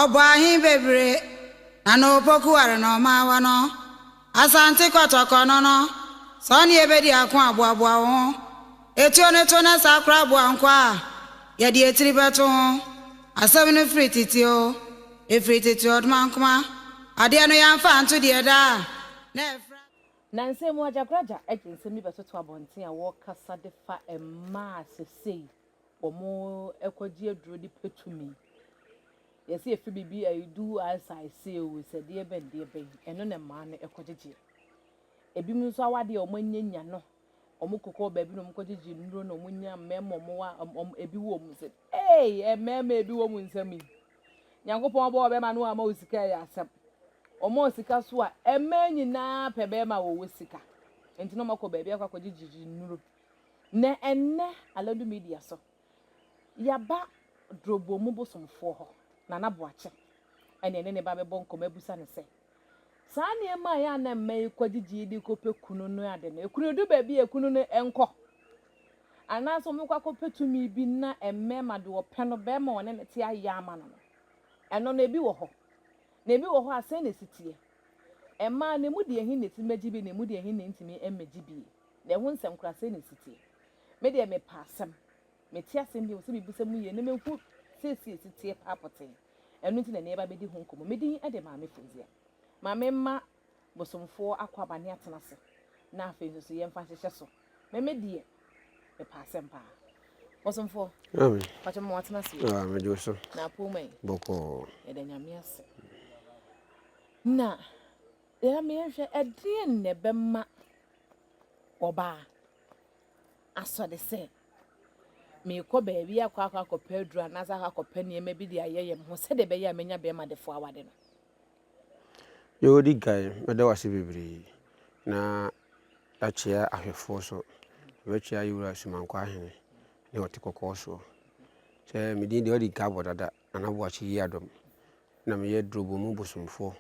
Ɔbɔɔ ahe bebree na na opoku ware na ɔma awa no. Asante Kɔtɔkɔ no no, sɛ ɔne yɛ bɛdi ako a, boaboa wo ho. Etuo no to na saa koraa boa nkwa a yɛde etiri bɛto ho. Asɛm no firi tete o, efiri tete ɔdomankoma. Adeɛ no yɛamfa anto deɛ daa a na ɛfra. Nnansa yi mu agyagoragya de nsɛm bi bɛtoto abɔnten a wɔkasa de fa mmaa a sesei wɔkɔgye aduro de pɛ tumi. Yɛse efi biribi a edu as I say o sɛ deɛ bɛn deɛ bɛn ɛno na mmaa no ɛkɔgyegyeɛ. Ebinom nso awadeɛ a wɔanyanya no wɔkokɔ baabi na wɔkɔgyegye nnuro na wɔnya mmarima wɔn a ebi wɔ mu sɛ ee mmarima ebi wɔ mu nsɛm yi. Nyankopɔn bɔɔ bɛma no ama wo sika yɛ asɛm ɔmɔɔ sika so a ɛmɛɛ nyinaa pɛ bɛma wɔwɔ sika nti no ɔmɔkɔ baabi akɔ akɔgye gyigyi nnuro nɛ ɛnnɛ aladu media so yaba drɔbɔ mu bosomfoɔ hɔ nana boakye ɛne ɛne ne ba bɛbɔ nkɔmɔ abusa ne sɛ Saa nneɛma a ɛyɛ a na mma yi kɔgye GED kɔpɛ kunu no ade no, ɛkunu du baabi a ɛkunu no nkɔ. Anaasɛ wɔbɛkɔ akɔpɛ tumi bi na mmarima de wɔpɛ no bɛma wɔne no te ayɛ ama no no. Ɛno no, ebi wɔ hɔ. Na ebi wɔ hɔ a, sɛn na ɛsi teɛ? Mmaa no, ɛmu deɛ he na ɛtumi bɛgye bi na ɛmu deɛ he na ɛntumi mmɛgye bi? Na ɛho nsɛm koraa sɛn na ɛsi teɛ? Me deɛ mepɛ asɛm. Mete asɛm bi mu sɛ mebisa mu yie na mahu seesei ɛsi teɛ paa pɔtee. Ɛno nti na ɛnnɛ yɛba bɛdi ho nkɔmmɔ. Me din de Maame Funzia. Maame mma bosomfoɔ akwaaba ne atena ase na afei nso so yɛmfa nhyehyɛ so. Meme deɛ mepɛ asɛm paa. Bosomfoɔ, Amen. pakyɛ mma watena ase o. Ah, mede wo so. Na apoo ma yi. Bɔkɔɔ. Yɛda Nyame ase. Na yɛba ma yɛnhwɛ ɛdeɛn na ɛbɛma ɔbaa asɔde sɛ Merekɔ baabi akɔ akɔ akɔpɛ aduru anaasɛ akɔ akɔpɛ nneɛma bi de ayɛ yɛn ho sɛdeɛ ɛbɛyɛ a mɛnya bɛrima defoɔ awade no. Deɛ ɔdi kan, mɛda wo ase bebree na yɛakyea ahwɛfoɔ so. Yɛbɛkyea yɛn wura Sumankɔ Ahene ne Ɔte Kɔkɔɔ soɔ. Sɛ medin deɛ ɔdi kan abɔ dada. Nana Boakye Yiadom na meyɛ Drobomu bosomfoɔ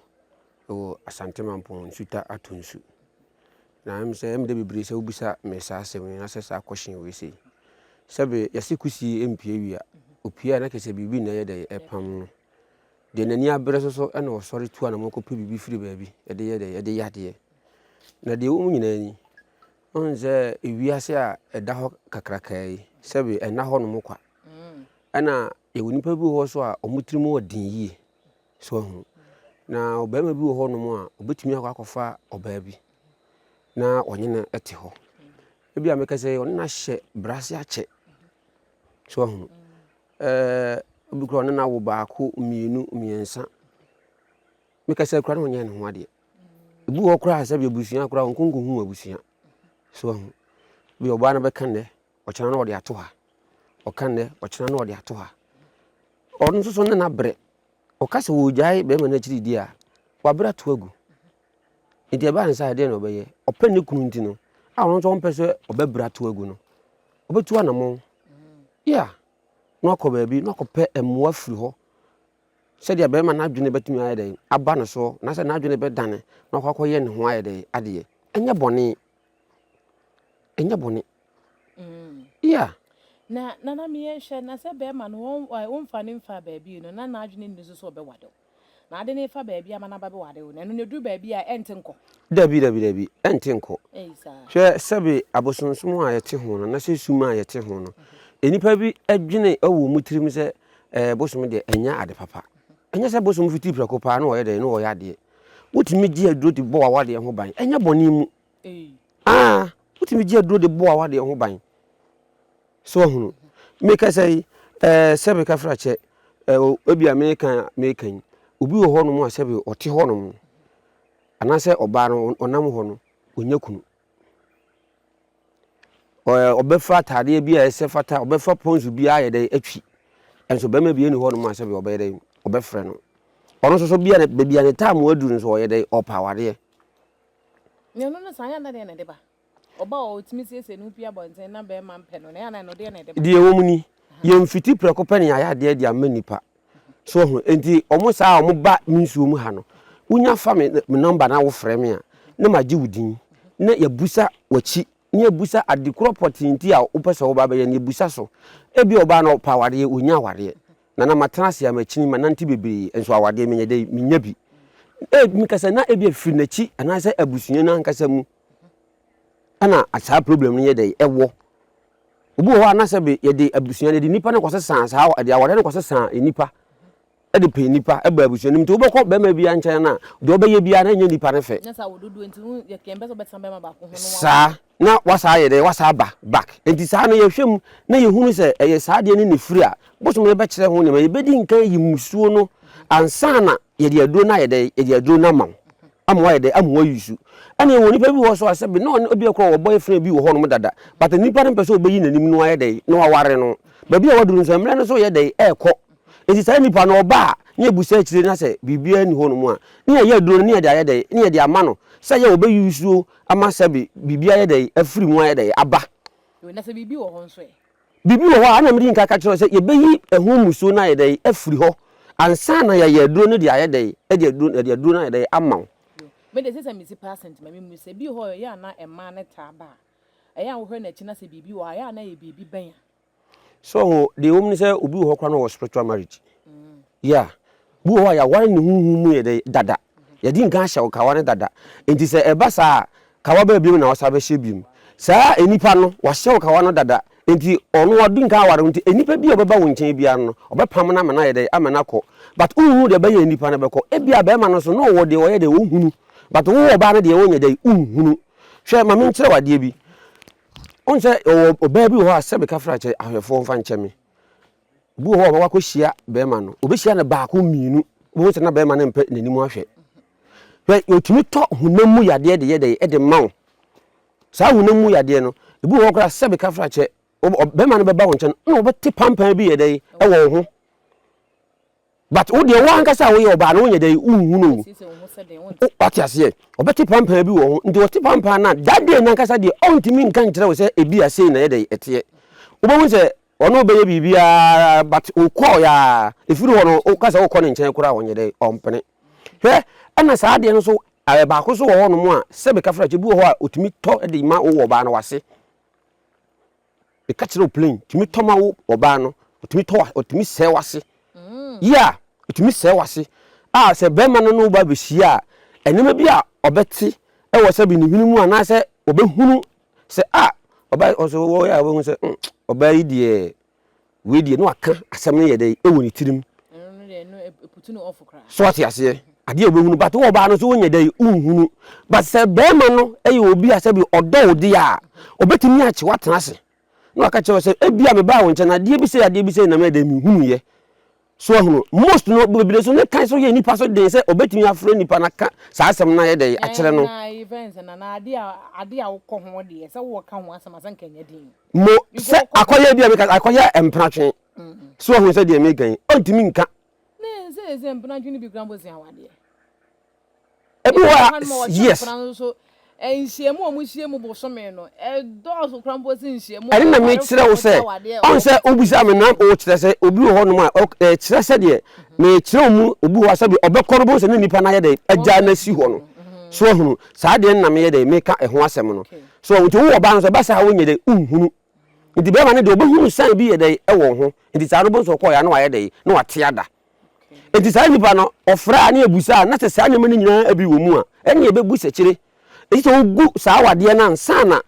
wɔ Asante Mampong Nsuta Ato Nsu. Na ɛm sɛ ɛm dɛ bebree sɛ wobisa me saa asɛm yi anasɛ saa question wei sei. Sɛbe yɛse kusie mpie wia, opie a na kyerɛ sɛ biribi na ɛyɛ dɛn ɛpam no. Deɛ n'ani abere so so ɛna ɔsɔre tu anamɔ kɔpɛ biribi firi baabi ɛde yɛ dɛn ɛde yɛ adeɛ. Na deɛ ɛwɔ mu nyinaa ni, Wohu sɛ wiase a ɛda hɔ kakrakaa yi, sɛbe ɛnna hɔnom kwa. Ɛna yɛwɔ nnipa bi wɔ hɔ so a wɔn tirim wɔ den yie. So ahu. Na ɔbarima bi wɔ hɔnom a ɔbɛtumi akɔ akɔfa ɔbaa bi na ɔnye no te hɔ. Ebi a mɛka sɛ ɔne no ahyɛ brase akyɛ. So ahu. Ɛɛ obi kura ɔne no awo baako, mmienu, mmiɛnsa. Mɛka sɛ kura na ɔnyɛ ne ho adeɛ. ebi wɔ hɔ koraa sɛ bi abusua koraa wɔn konko hu abusua so ahu bi ɔbaa no bɛka nnɛ ɔkyena no ɔde ato ha ɔka nnɛ ɔkyena no ɔde ato ha ɔno nso so ne n'abrɛ ɔka sɛ wɔgyae bɛrima no akyiri di a wabrɛ ato agu nti ɛbaa nsa ɛdeɛ na ɔbɛyɛ ɔpɛ ne kunu nti no a ɔno nso ɔmpɛ sɛ ɔbɛbrɛ ato agu no ɔbɛtu anamɔn yɛ a na wakɔ baabi na wakɔpɛ mmoa firi hɔ sɛdeɛ bɛrima no adwene bɛtumi ayɛ dɛn aba ne soɔ, anaasɛ n'adwene bɛdane na wakɔ akɔyɛ ne ho ayɛ dɛn adeɛ. Ɛnyɛ bɔne. Ɛnyɛ bɔne. Mm. Yeah. Na nana mi yɛn hwɛ na sɛ bɛrima no wɔn wɔn nfa ne nfa baabi no na n'adwene nni so so ɔbɛwade o. Na ade ne fa baabi ama n'aba bɛwade o. Na ɛno na eduru baabi a ɛnte nkɔ. Dabi dabi dabi ɛnte nkɔ. Ɛyi saa. Hwɛ sɛbi abosonsom a yɛte ho no na sɛ sum a yɛte ho no. Mm-hmm. Nnipa bi adwene wɔ wɔn tirim sɛ ɛɛ bosom deɛ ɛnyɛ ade papa ɛnyɛ sɛ bosom fiti prɛko paa na ɔyɛ dɛ na ɔyɛ adeɛ wotumi gye aduro de bɔ wawadeɛ ho ban ɛnyɛ bɔne mu aa wotumi gye aduro de bɔ wawadeɛ ho ban so ahunu meka sɛ yi ɛɛ sɛ meka fra kyɛ ɛɛ ebi a meka meka yi obi wɔ hɔ nom a sɛ bi ɔte hɔ nom anaasɛ ɔbaa no ɔnam hɔ no ɔnya kunu Ɔɛ ɔbɛfa ataadeɛ bi a ɛsɛ fata, ɔbɛfa pɔnso bi ayɛ dɛ atwi. Ɛnso bɛrima bi ɛni hɔ nom a sɛbi ɔbɛyɛ dɛ ɔbɛfrɛ no. Ɔno nso so bia ne baabi a ne time aduru nso ɔyɛ dɛ ɔpɛ awadeɛ. Na ɛno no saa yɛ ana deɛ na ɛde ba? Ɔbaa a ɔtumi siesie ne ho pue abɔnten na bɛrima mpɛ no no ɛyɛ ana ɛno deɛ na ɛde ba? Deɛ ɛwɔ mu ni, yɛn mfiti prɛko pɛ ne yɛayɛ adeɛ de ama nnipa. So wahu? Enti wɔn saa a wɔba me nsuo mu ha no, wonya fa me me nɔmba na wofrɛ me a, na magye wo din, na yɛabusa w'akyi, na yɛabusa ade korɔ pɔtee nti a wopɛ sɛ woba abɛyɛ no, yɛabusa so. Ebia ɔbaa no ɔpɛ awadeɛ, ɔnnya awadeɛ. Na na matena ase a makyini, manante bebree, nso awadeɛ menyɛ dɛ menya bi. E, meka sɛ na ebia firi n'akyi anaasɛ abusua no ankasa mu na saa problem no yɛ dɛ ɛwɔ. Obi wɔ hɔ a na sɛ be yɛde abusua no, yɛde nnipa no kɔsesa saa awa- yɛde awareɛ no kɔsesa nnipa de pɛ nnipa ba abusua no mu. Nti wobɛkɔ barima biara nkyɛn no a, deɛ ɔbɛyɛ biara na ɛnyɛ nnipa no fɛ. Nyɛ saa wɔ dodoɔ nti wo yɛ kɛn bɛ sɛ wobɛtena bɛrima baako ho no wawo Saa no. na wasa ayɛ dɛn? Wasa aba back. Nti saa no yɛhwɛ mu na yɛhunu sɛ ɛyɛ saa adeɛ no na ɛfiri a, bosome no bɛkyerɛ ho nneɛma. Yɛbɛdi nkan ayi mmusuo no ansa na Yɛde aduro no ayɛ dɛ, yɛde aduro no ama wo, ama wayɛ dɛ, ama wayi su. Ɛna yɛwɔ nipa bi wɔ hɔ so a sɛbe na ɔne ebia kora wɔ boyfriend bi wɔ hɔ nom dada, but nipa no mpɛ sɛ ɔbɛyi n'anim na wayɛ dɛ, na waware no. Baabi a waduru nso, mmerɛ no nso reyɛ dɛ, ɛrekɔ. Nti saa nipa no ɔba a, na yɛbusa akyire na sɛ biribiara nni hɔ nom a, na yɛayɛ aduro no, na yɛde ayɛ dɛ, na yɛde ama no, sɛ yɛ ɔbɛyi su ama sɛbe biribi ayɛ dɛ, afiri mu ayɛ dɛ, aba. Na sɛ biribi wɔ hɔ nso ɛ? Biribi wɔ hɔ a na mede nka ka kyerɛ wo sɛ yɛbɛyi ɛho mmusuo no ayɛ dɛ afiri hɔ ansa na yɛayɛ aduro no de ayɛ dɛ de aduro yɛde aduro no ayɛ dɛ ama wo. Me de sesa mesi percent ma me mu sɛ bi hɔ a ɛyɛ a na ɛmaa no taa ba a ɛyɛ a wohwɛ no akyi na sɛ biribi wɔ hɔ a ɛyɛ a na ɛyɛ biribi bɛn a. So ho deɛ ɛwɔ mu ne sɛ obi wɔ hɔ koraa na ɔwɔ spiritual marriage yeah Bi wɔ hɔ a, yɛaware no honhom mu yɛ dɛ dada. Yɛde nkan ahyɛ wo kawa no dada. Enti sɛ ɛba saa a, kawa bɛyɛ bio na wosan bɛhyɛ bio. Saa nipa no, wahyɛ wo kawa no dada. Enti ɔno wadi nkan aware wo nti, nnipa bi a wɔbɛba wo nkyɛn biara no, ɔbɛpam no ama no ayɛ dɛ, ama no akɔ. But wonhu deɛ ɛbɛyɛ a nipa no bɛkɔ. Ebia barima no nso, na ɔwɔ deɛ ɔyɛ dɛ, ɔhunu. But wo ɔbaa no deɛ, wonyɛ dɛ, wonhunu. Hwɛ, ma menkyerɛ wo adeɛ bi. Wohu sɛ ɔwɔ ɔbaa bi wɔ hɔ a, sɛ meka fra kyɛ ahwɛfoɔ mfa nkyɛ me. Obi wɔ hɔ a ɔbɛkɔ akɔhyia bɛrima no, ɔbɛhyia no baako mmienu, wobɛhu sɛ na bɛrima no mpɛ n'anim ahwɛ. Hwɛ, ɔtumi tɔ honam mu yadeɛ de yɛ dɛn de ma wo. Saa honam mu yadeɛ no, ebi wɔ hɔ koraa sɛbe kafrakyɛ, bɛrima no bɛba wo nkyɛn na ɔbɛte pampan bi yɛ dɛn wɔ wo ho. but wo deɛ wo ankasa a woyɛ ɔbaa no wonyɛ dɛn wonhunu o wate aseɛ ɔbɛte pampaa bi wɔ ho nti ɔte pampaa no a that day nankasa deɛ ɔntumi nka nkyerɛ wo sɛ ebi a sei na yɛ dɛn ɛteɛ wobɛhu sɛ ɔno ɔbɛyɛ biribiara but wokɔɔ yɛ a ɛfiri hɔ no woka sɛ wokɔ ne nkyɛn koraa a ɔnyɛ dɛn ɔmpene hwɛ ɛna saa adeɛ no so eh, baako so wɔ hɔnom a sɛbe kafrakye bi wɔ hɔ a ɔtumi tɔ de ma wowɔ ɔbaa no wase meka kyerɛ wo plain tumi tɔ ma wo ɔbaa no ɔtumi tɔ ɔtumi sɛe wase mm. yia yeah, ɔtumi sɛe wase a ah, sɛ bɛrima no ne wo ba bɛhyia a ɛnneɛma bi a ɔbɛte ɛwɔ sɛ bi ne hwene mu anaasɛ ɔbɛhunu sɛ a ah, ɔbaa ɔsɛ wɔyɛ a ɔbɛhu sɛ mm, ɔbaa yi deɛ Wei deɛ na waka asɛm no yɛ dɛ ɛwɔ ne tirim. So ate aseɛ? Adeɛ a wobɛhunu but wɔ ɔbaa no so wonyɛ dɛ wonhunu but sɛ bɛrima no yɛ obi a sɛbi ɔdɔ wo deɛ a ɔbɛtumi akye wo atena ase na waka kyerɛ wo sɛ ebia mebaa wo nkyɛn no adeɛ bi sei adeɛ bi sei na meyɛ dɛ menhunuiɛ So wahunu? Most no bebree so ne kan so yɛ nipa so den sɛ ɔbɛtumi afrɛ nipa no aka saa asɛm no ayɛ dɛ akyerɛ no. Na yɛfrɛ no sɛ na na ade a ade a wokɔ ho deɛ sɛ wɔka ho asɛm a sɛ nka ɛnyɛ den. Mo sɛ akɔyɛ bi a meka akɔyɛ mpenatwe. So wahunu sɛ deɛ meka yi ɔntumi nka. Ne sɛ sɛ mpenatwe no bi kura mbosea awadeɛ. Ebi wɔ hɔ a ma wɔhyɛ yes. nkwadaa no nso nhyiamu a wɔhyia mu bosome no ɛdɔɔso koraa mpo sɛ nhyiamu a ɛne na awarefoɔ mekyerɛ wo wɔhyɛ sɛ awadeɛ ɔn sɛ wɔkɔ wobisa me na wokyerɛ sɛ obi wɔ hɔnom a ɔk- eh, kyerɛ sɛdeɛ mekyerɛ wo mu obi wɔ hɔ a sɛdeɛ ɔbɛkɔ no bɛhu sɛ ne nnipa no ayɛ dɛn wɔn agya no asi hɔ no Mhm. so ahunu saa deɛ no na meyɛ dɛn meka ɛho asɛm no Okay. so nti wowɔ ɔbaa no sɛ ɛba saa wonyɛ dɛn wonhunu nti bɛrima no deɛ ɔbɛhunu sane bi yɛ dɛn ɛwɔ ho nti saa no bɛhu sɛ ɔkɔɔyɛ a na wayɛ dɛn na wate ada Enti saa nipa no, ɔfrɛ a ne ɛbusa a, na sɛ saa nneɛma no nyinaa bi wɔ mu a, ɛne ɛbɛbu sɛkyire. Ɛti sɛ wogu saa awadeɛ no ansa na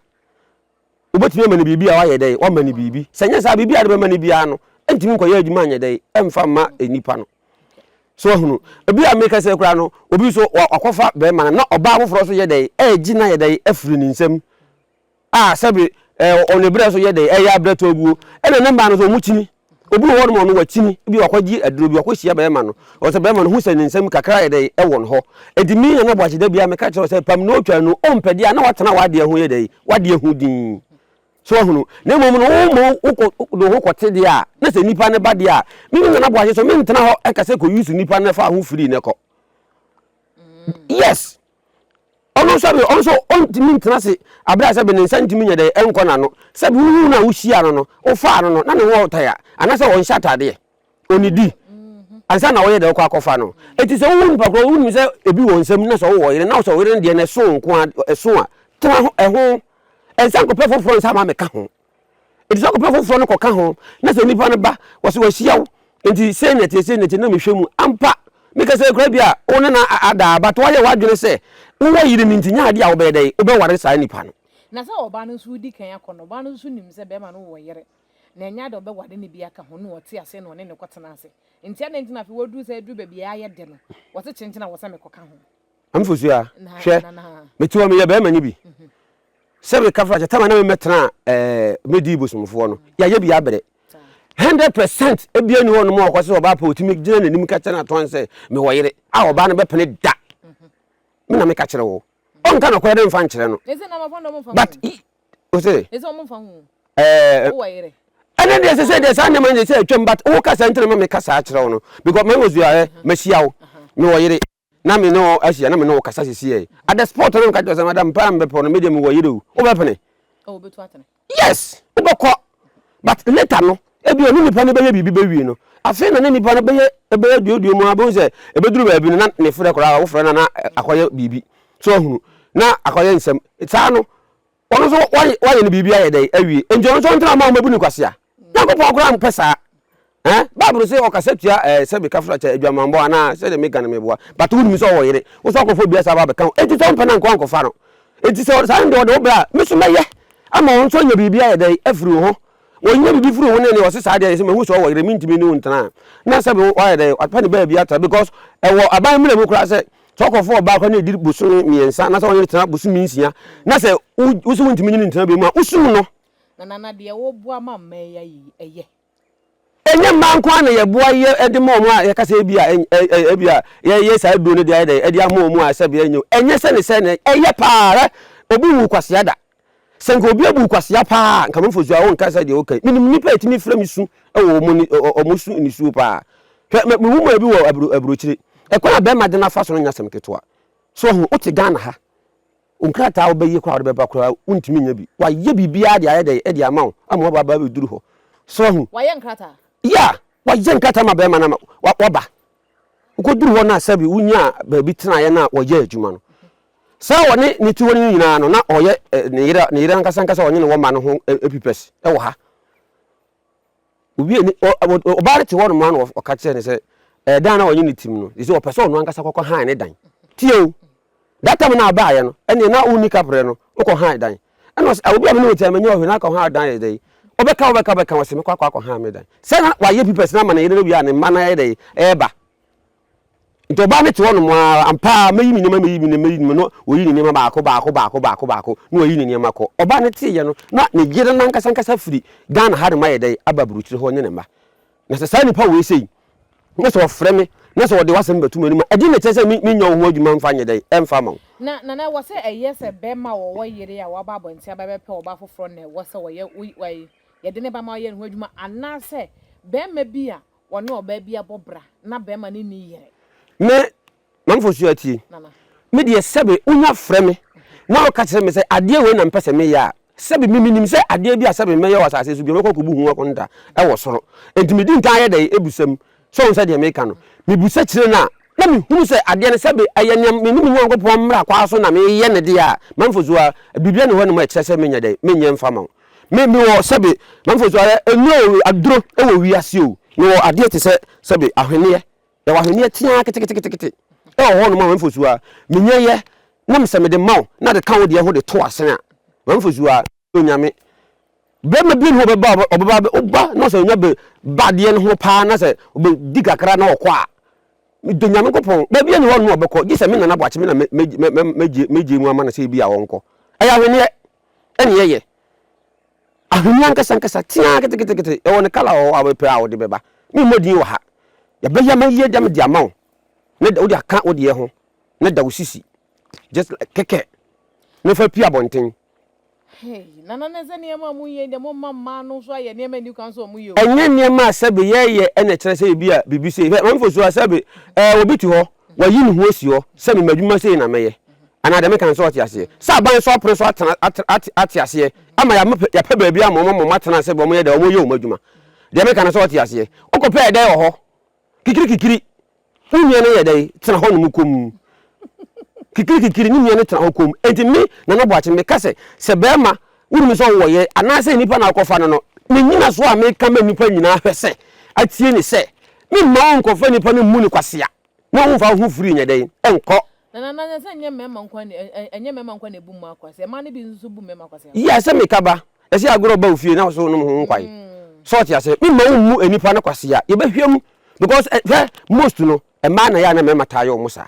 wobɛtumi ama no biribi a wayɛ dɛn, wama no biribi. Sɛ nyɛ saa biribi a de bɛma no biara no, ɛntumi nkɔyɛ adwuma nyɛ dɛn, ɛmfa mma nipa no. So ahunu, ebi a meka sɛ koraa no, obi so wakɔfa bɛrima no na ɔbaa foforɔ so yɛ dɛn, ɛregye no ayɛ dɛn afiri ne nsam. a sɛbe ɛɛ ɔne brɛ so yɛ dɛ ɛyɛ abrɛ tɔ aguo ɛna ne mmaa no nso wɔn kyini obi wɔ hɔ nom ɔno wakyini ebi wakɔgye aduro bi wakɔhyia bɛrima no ɔsɛ bɛrima no ho sɛ ne nsam kakra yɛ dɛ ɛwɔ ne hɔ ɛdi mi na na bɔakye da bi a meka kyerɛ sɛ pam na ɔtwa no ɔmpɛ deɛ a na watena wadeɛ ho yɛ dɛ wadeɛ ho din so ahunu na mmom no wo ma wokɔ ne ho kɔte deɛ a na sɛ nipa ne ba deɛ a mi mi nana bɔakye so mi ntena hɔ ɛka sɛ kɔ yusu nipa ne fa ho firi ne kɔ mm. yes ɔno nso sɛbi ɔno nso ɔntumi ntena ase abira sɛbi ne nsa ntumi nyɛ dɛ ɛnkɔ n'ano sɛbi wohu no a wohyia no no wofaa no no na ne ho ɔtan a anaasɛ ɔnhyɛ ataadeɛ ɔnidi ansa na ɔyɛ dɛ ɔkɔ akɔfa no eti sɛ wohu nipa korɔ wonim sɛ ebi wɔ nsɛm na sɛ wowɔ yere na sɛ ɔyere no deɛ na ɛso nko a ɛso a tena ho ɛho nsa nkɔpɛ foforɔ nsa ma meka ho Enti sɛ wokɔpɛ foforɔ no kɔka ho na sɛ nipa no ba wɔsɛ wɔahyia wo nti sei na ɛteɛ sei na ɛteɛ na mehwɛ mu ampa mekasa kura bi a wo ne na adaa but woayɛ w'adwene sɛ wowɔ yere no nti nyɛ adeɛ a wobɛyɛ dɛ wobɛware saa nipa no. Na sɛ ɔbaa no nso di kan akɔ no ɔbaa no nso nim sɛ bɛrima no wɔ yere na ɛnyɛ ade a ɔbɛware no bi aka ho na ɔte aseɛ na ɔne no kɔtena ase nti adɛn nti na afei waduru sɛ aduru baabi a ayɛ dɛ no wɔse kyenkyen a wɔsɛ mekɔka ho. Amfosua, hwɛ, mete hɔ meyɛ bɛrima nye bi. Sɛ meka fra kyɛ, tama na memmɛtena ɛɛ medi bosomfoɔ no, yɛayɛ bi abrɛ. Hundred percent ebia ni hɔ nom a ɔkɔ sɛ ɔbaa pɛ otumi gyina n'anim ka kyerɛ n'atɔn sɛ mewɔ yere a ɔbaa no bɛpene da. Me na meka kyerɛ wo. Ɔnka nɔkorɛ dɛ mfa nkyerɛ no. But ose ɛɛ ɛnɛ deɛ sɛ sɛ deɛ saa nneɛma no sɛ atwam but woka saa nti na ma meka saa kyerɛ wo no because ma mosua ɛ mahyia wo mewɔ yere Na me ne wo ahyia na me ne wo kasa sisi ɛ. At the spot na me ka kyerɛ sɛ madam paa mebɛpɛ no me deɛ me wɔ yere o. Wo bɛ pene? Oh obetu atene. Yes wo bɛ kɔ but later no ebi ɔne nipa no bɛyɛ biribi bɛ wie no afei na ne nipa no bɛyɛ bɛyɛ duoduo mu a bɛ hu sɛ ebeduru baabi no na ne frɛ koraa wo frɛ no a na akɔyɛ biribi so ahunu na akɔyɛ nsɛm saa no Ɔno nso wayɛ no biribi ayɛ dɛn awie nti ɔno nso ɔntena ma wɔn bɛbu no kwasea. Nyankopɔn koraa mpɛ saa. Eh, Bible sɛ ɔkasa tua eh, sɛ meka fra kyɛ adwamanbɔ anaa sɛ deɛ meka no meboa but wonim sɛ ɔwɔ yere wo sɛ akɔfo bia saa ba bɛka wo enti sɛ ɔmpɛ no anka wankɔfa no enti sɛ saa no deɛ ɔde wo bra me so mɛyɛ ama wɔn nso anya biribi ayɛ dɛn afiri wo ho wɔnyɛ biribi firi wo ho ne ne ɔse saa deɛ sɛ mahu sɛ ɔwɔ yere mentumi ne wo ntena na sɛ wayɛ dɛn wapɛ ne baabi atra because ɛwɔ aban mmerɛ mu koraa sɛ Tɔkɔfoɔ ɔbaa kora na ɛdi bosome mmiɛnsa na sɛ ɔne no tena bosome nsia na sɛ wo sɛ wontumi ne no ntena bɛ mu a, wosum no. Na Nana deɛ woboa ma mmaa yi ayi yi, ɛyɛ? Ɛnyɛ mmaa nko ara na yɛboa yɛ de ma wɔn a yɛka sɛ ebi a ebi a yɛyɛ saa aduro no de ayɛ dɛ de ama wɔn a sɛbe ɛnyɛ o. Ɛnyɛ sɛ ne sɛ na ɛyɛ paa ara obi nwu kwasea da. Sɛ nka obi abu wo kwasea paa a, nka mfomso a wonka sɛ deɛ woka yi. Menim nnipa a ɛtumi frɛ me su wɔ wɔn ani, wɔn su nisuo paa. Hwɛ, me, me nwoma bi wɔ aburo, aburokyire. Ɛkwan a bɛrima de no afa so no nyɛ asɛm ketewa. So wahu, wote Ghana ha. Wo nkrataa a wobɛyɛ koraa a wode bɛba koraa, wontumi nya bi. Wayɛ biribiara de ayɛ dɛn? De ama wo, ama waba abɛduru hɔ. So wahu? Wayɛ nkrataa? Yeah, wayɛ nkrataa ma bɛrima no ama waba. Wokoduru hɔ no a sɛbe wonyaa baabi tenaeɛ no a wɔyɛɛ adwuma no. Sɛ ɔne ne te hɔ no nyinaa no na ɔyɛ ne yere ne yere ankasa ankasa ɔnye ne wɔ mma no ho pipɛs wɔ ha. Obi ani ɔbaa no te hɔ nom a na ɔka kyerɛ ne sɛ ɛdan na ɔnye ne tim no ɛsɛ ɔpɛ sɛ ɔno ankasa kɔkɔ han ne dan. Tie o, That time na ɔbaayɛ no ɛneɛ na wonni kaprɛ no wokɔ han dan ɛna ɔse ah obi a mene wo te a mennyɛ ɔhwee na akɔ han dan ayɛ dɛn wobɛka wobɛka wobɛka ɔse mɛkɔ akɔ akɔ han me dan sɛ na wayɛ pipɛs na ama ne yere no awie a ne mma no ayɛ dɛn ɛɛba nti ɔbaa no te hɔ nom aa ampa aa mɛyi me nneɛma mɛyi me nneɛma mɛyi me no wɔyi ne nneɛma baako baako baako baako baako na wɔyi ne nneɛma kɔ ɔbaa no teeɛ no na ne yere no ankasa ankasa firi Ghana ha nom ayɛ dɛn aba aburokyire hɔ ɔne ne mma Na sɛ saa nnipa wei sei, na sɛ wɔfrɛ me, na sɛ wɔde w'asɛm bɛto m'anim a, ɛdeɛn na ɛkyerɛ sɛ menyɛ wo ho adwuma mfa nyɛ dɛn? Ɛmfa mma wo. Na, na, na ɛwɔ sɛ ɛyɛ sɛ bɛrima a ɔwɔ yere a waba abɔnten aba bɛpɛ ɔbaa foforɔ na ɛwɔ sɛ wɔyɛ, wo, wɔyi, yɛde ne ba ma ɔyɛ ne ho adwuma, anaasɛ bɛrima bi a ɔne ɔbaa bi abɔ bra, na bɛrima no nni yere. Me, na mfa osu atie me deɛ, sɛbe wonya frɛ me na woka kyerɛ me sɛ, Adeɛ wei na mepɛ sɛ meyɛ a, sɛbe me menim sɛ adeɛ bi a sɛbe mɛyɛ wɔ asase so biara, mɛkɔ akɔbu ho akonta wɔ soro. Enti medi nkan yɛ dɛn? Ebusa mu. So wohu sɛ deɛ meka no? Mebusa kyerɛ no a, na mehunu sɛ adeɛ no, sɛbe ɛyɛ nea me ne me Nyankopɔn mmara kwaa so na meyɛ no deɛ a, mamfa osu a, biribiara nni hɔnom a ɛkyerɛ sɛ menyɛ dɛn? Menyɛ mfa mma wo. Me, mewɔ, sɛbe mamfa osu ayɛ nnuro o, aduro wɔ wiase o, mewɔ adeɛ te sɛ, sɛbe ahweneɛ Yɛwɔ ahweneɛ teaa keteketekete ɛwɔ hɔnom a wɔmfosuo a menya yɛ na mesɛ mede ma wo na de ka wo deɛ ho de to asen a wɔmfosuo a onyame bɛma bi ne ho bɛba ɔbɛba ɔba na sɛ onya ba adeɛ no ho paa na sɛ ɔbɛdi kakra na ɔkɔ a medɔ nyame nkɔpɔn baabi ani hɔ no ɔbɛkɔ gye sɛ me nana boakye me na megye mu ama no sɛ ebi a wɔnkɔ ɛyɛ ahweneɛ ɛne ɛyɛ Ahoni ankasa ankasa teaa ketekete, yɛwɔ no kala a wobɛpɛ a wode bɛba. Memmɔ din wɔ ha. Yɛbɛyɛ ma yie dɛm de ama wo na da wode aka wo deɛ ho na da wo sisi just like kɛkɛ na fa pie abɔnten. Hey, nana na sɛ nneɛma a ɔmo yɛ deɛ mo mma mmaa no nso ayɛ nneɛma ni kwan sɛ ɔmo yɛ o. Ɛnyɛ nneɛma a sɛbe yɛyɛ ɛna ɛkyerɛ sɛ ebi a biribi sei. Hwɛ, Maame Fosu a sɛbe ɛɛ obi te hɔ, wayi ne ho asi hɔ sɛ me m'adwuma sei na mɛyɛ. Anaa deɛ meka no sɛ ɔte aseɛ? Sɛ aban so apono so atena, ate, ate, ate aseɛ ama yɛama, yɛapɛ baabi ama wɔn ama wɔn atena ase, wɔn yɛ dɛ, wɔn yɛ wɔn adwuma. Deɛ meka no sɛ ɔte aseɛ? Wokɔpɛ ɛdɛn wɔ hɔ? Kikiri kikiri, wo nua no yɛ dɛn? Tena hɔ nom komm. Kikiri kikiri, ne nua no tena hɔ komm. Enti me, Nana Boakye, meka sɛ, sɛ barima, wonim sɛ wowɔ yere, anaasɛ nnipa na wokɔfa no no, me nyinasoɔ a meka ma nnipa nyinaa hwɛ sɛ, atie ne sɛ, memma wɔnkɔfa nnipa no mmu no kwasea. Mo ho mfa wo ho firi nyɛ dɛn? Nkɔ. Na na na sɛ nyɛ mmarima nkoa na ɛ ɛ ɛnyɛ mmarima nkoa na ebu mmaa akwasea, mmaa no bi nso bu mmarima akwasea ho. Yɛ sɛ me ka ba, ɛsɛ agorɔ ɔba ofie na ɔso nom ho nkwan. So ɔte aseɛ? Me mma wo mmu nnipa no kwasea, yɛ bɛ hwɛ mu because ɛ hwɛ most no mmaa na yɛ a na mmarima taa yɛ wɔn saa.